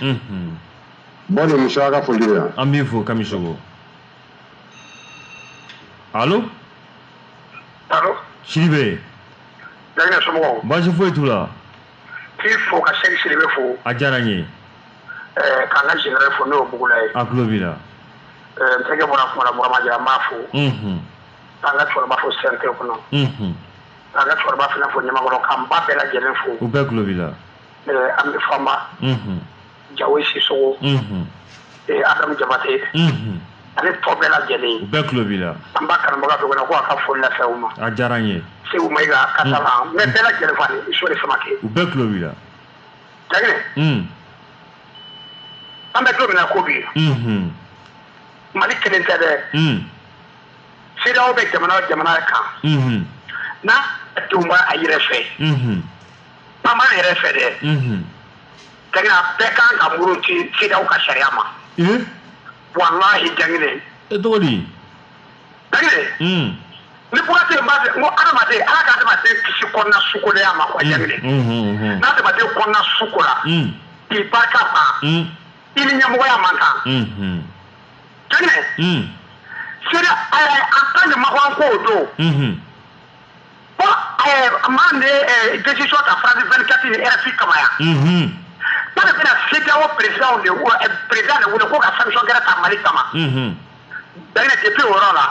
bon nin muso ka foli bɛ yan an b'i fo kami alo alo Sidibe Jangine somɔgɔw baasi foyi t'u la k'i fo ka Sɛki Sidibe fo a diyara n ye eh, ka n ka général fo n'o bugula ye a tulo b'i la eh, n tɛgɛ bɔra kuma la Burama Jara n b'a fo mhm. ka n ka cɛkɔrɔba fo CNT kɔnɔ mhm. ka n ka cɛkɔrɔba fana fo ɲamakɔrɔ ka n ba bɛɛ lajɛlen fo u bɛɛ tulo b'i la eh, an bɛ fanba mhm. jawo Sisɔkɔ ee Adama Jabate ani tɔ bɛɛ lajɛlen bɛɛ tulo b'i la an b'a karamɔgɔ dɔ kɔnɔ ko a ka foli lase u ma a diyara n ye Seku Mayiga Kasala n bɛ bɛɛ lajɛlen fo ani Sori Samake u bɛɛ tulo b'i la Jangine an bɛ don min na ko bi mali kelen tɛ dɛ CEDEAO bɛ jamana o jamana kan n'a denw b'a a yɛrɛ fɛ bamanan yɛrɛ fɛ dɛ Tɛnɛ a bɛɛ ka kan ka muruti CEDEAO ka sariya ma. Ee! Walahi Jangine. E tɔgɔ di? Jangine. Unhun. Ni kuma tɛ yen, n b'a fɛ, n ko adamaden, Ala ka adamaden kisi kɔnɔna sukolenya ma quoi Jangine. Unhun, unhun. Ni adamaden kɔnɔna su kora. Un! K'i barika ban. Un! I ni ɲɛmɔgɔya man kan. Unhun. Jangine. Un! CEDEAO, ɛɛ, en tant que Macron ko o don. Unhun. Bon ɛɛ maa min bɛ décision ta France 24 ni RFI kama yan. Unhun. K'ale bɛna CEDEAO président de président de wele ko ka sanction gɛrɛ ta Mali kama. Unhun. Jangine depuis o yɔrɔ la,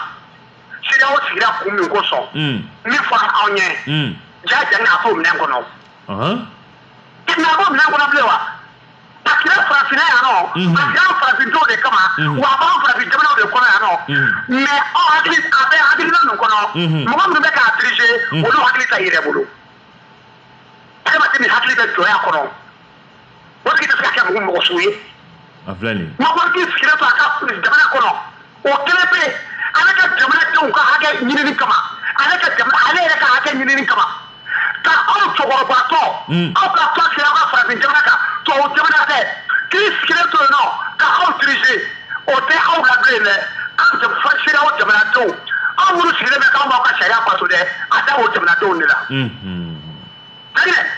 CEDEAO sigira kun min kosɔn. Un. Min fɔra anw ɲɛ. Un. Jaa Jangine a t'o minɛn kɔnɔ. Ɔnhɔn. Jangine a t'o minɛn kɔnɔ bilen wa a kɛra farafinna yan nɔ a kɛra farafindenw de kama wa a b'an farafin jamanaw de kɔnɔ yan nɔ mais aw hakili a bɛ hakilina ninnu kɔnɔ mɔgɔ minnu bɛ k'a dirige olu hakili t'a yɛrɛ bolo adamaden min hakili bɛ jɔnya kɔnɔ o tigi tɛ se ka kɛ mɔgɔ mɔgɔ sugu ye a filɛ nin ye mɔgɔ k'i sigilen to a ka jamana kɔnɔ o kelen bɛ ale ka jamanadenw ka hakɛ ɲinini kama ale ka jamana ale yɛrɛ ka hakɛ ɲinini kama ka aw cɛkɔrɔbatɔ hmm. aw ka tɔn sigira aw ka farafin jamana kan tubabu jamana de k'i sigilen to yen nɔ ka aw dirige o tɛ aw la bilen dɛ aw CEDEAO jamanadenw aw minnu sigilen bɛ k'aw b'aw ka sariya bato dɛ a da o jamanadenw de la. Hmm, hmm.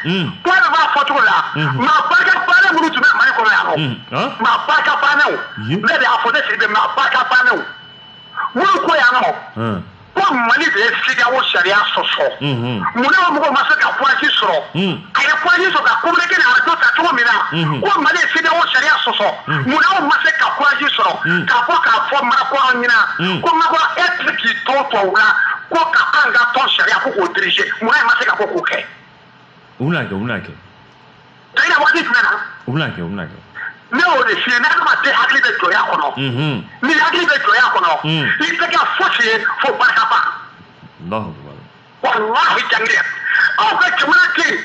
Mm. Kuma de b'a fɔ cogo la mm-hmm. maa barika bannen minnu tun bɛ Mali kɔnɔ yan nɔ mm. maa barika bannenw ne de y'a fɔ ne Sidibe maa barika bannenw minnu ko yan nɔ mm. ko Mali de ye CEDEAO sariya sɔsɔ mm-hmm. mun na o mɔgɔw ma se ka courage sɔrɔ a ye courage sɔrɔ ka communiqué ni arajo ta cogo min na mm-hmm. ko Mali ye CEDEAO sariya sɔsɔ mun na o ma se ka courage sɔrɔ k'a fɔ k'a fɔ Macron ɲɛna ko Macron e tɛ k'i to tubabu la ko ka an ka tɔn sariya ko k'o dirige munna e ma se ka ko k'o kɛ u bɛna kɛ u bɛna kɛ tayina waati jumɛn na u bɛna kɛ u bɛna kɛ ne y'o de f'i ye n'adamaden hakili bɛ jɔnya kɔnɔ n'i hakili bɛ jɔnya kɔnɔ i tɛ kɛ fosi ye fo barikaba walahi jangine aw ka jamana den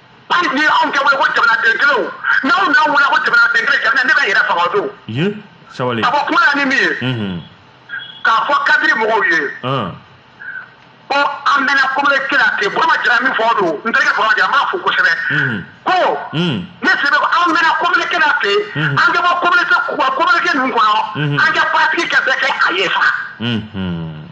hali ni anw tɛ wele ko jamanaden kelenw n'anw n'anw wele ko jamanaden kelen jamana ne bɛ yɛrɛ faga o don ye sabali ka bɔ kuma la ni min ye Mhm. k'a fɔ kadiri mɔgɔw ye Ah. ko an bɛna communiqué la ten burama jara min fɔ o don n terikɛ burama jara n b'a fo kosɛbɛ Mhm. ko Mm. ne sidibe ko an bɛna communiqué la ten Mhm. an ka bɔ communiqué ninnu kɔnɔ Mhm. an ka paratiki kɛ bɛɛ kɛ a ye fa Mhm.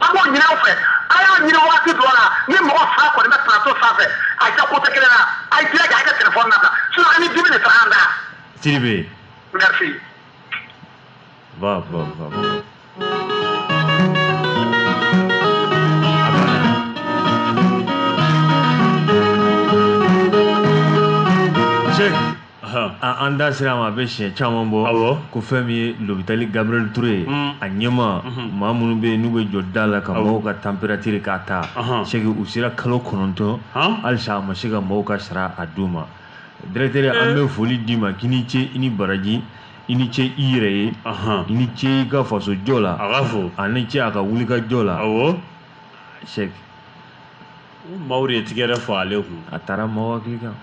an b'o ɲin'aw fɛ a y'a ɲini waati dɔ la ni mɔgɔ fila kɔni bɛ plateau sanfɛ a kɛ kote kelen na a ye jija a kɛ telefɔni na tan sinon an ni dimi de taara an da sidibe merci va va va Check. an da sera ma a bɛ siɲɛ caman bɔ ko fɛn min ye l'hôpital gabriel touré a ɲɛma maa minnu bɛ yen n'u bɛ jɔ da la ka mɔgɔw ka température k'a ta sɛki u sera kalo kɔnɔntɔn halisa a ma se ka mɔgɔw ka sara a d'u ma directeur an bɛ foli d'i ma k'i ni ce i ni baraji i ni ce i yɛrɛ ye i ni ce i ka fasojɔ la a b'a fɔ a ni ce a ka wuli ka jɔ la sɛki ye tigɛɛrɛ fɔ ale kun a taara mɔgɔwa kan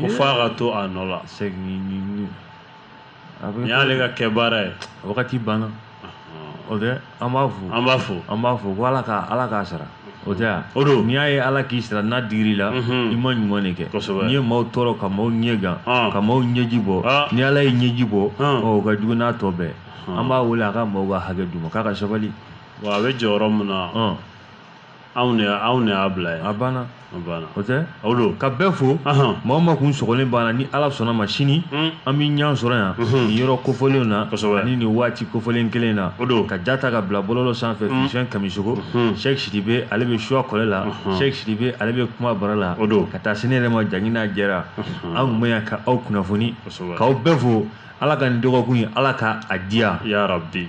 ko f'a ka to a nɔ la segin ni y'ale ka kɛ baara ye wagati banna o tɛ an b'a fo an b'a fo an b'a fɔ ko ala ka ala k'a sara o tɛ yan o don n'i y'a ye ala k'i sara n'a digir'i la i ma ɲuman de kɛ kosɛbɛ n'i ye maaw tɔɔrɔ ka maaw ɲɛ gan ka maaw ɲɛji bɔ ni ala y'i ɲɛji bɔ o ka jugu n'a tɔ bɛɛ an b'a wele a ka maaw ka hakɛ d'u ma k'a ka sabali wa a bɛ jɔyɔrɔ min na anw de anw de y'a bila ye a banna a banna o tɛ o don ka bɛɛ fo maa o maa kun sɔgɔlen b'an na ni ala sɔnna ma sini hmm. an bɛ ɲɔgɔn sɔrɔ yan hmm. nin yɔrɔ kofɔlenw na ani nin waati kofɔlen kelen na o don ka ja ta ka bila bɔlɔlɔ sanfɛ hmm. fisɛn kamisogo sɛki sidibe ale bɛ suwa kɔlɛ la sɛki sidibe ale bɛ kuma bara la o don ka taa se ne yɛrɛ ma jangina jara an tun bɛ yan ka aw kunnafoni k'aw bɛɛ fo ala ka nin dɔgɔkun ye ala ka a diya yarabi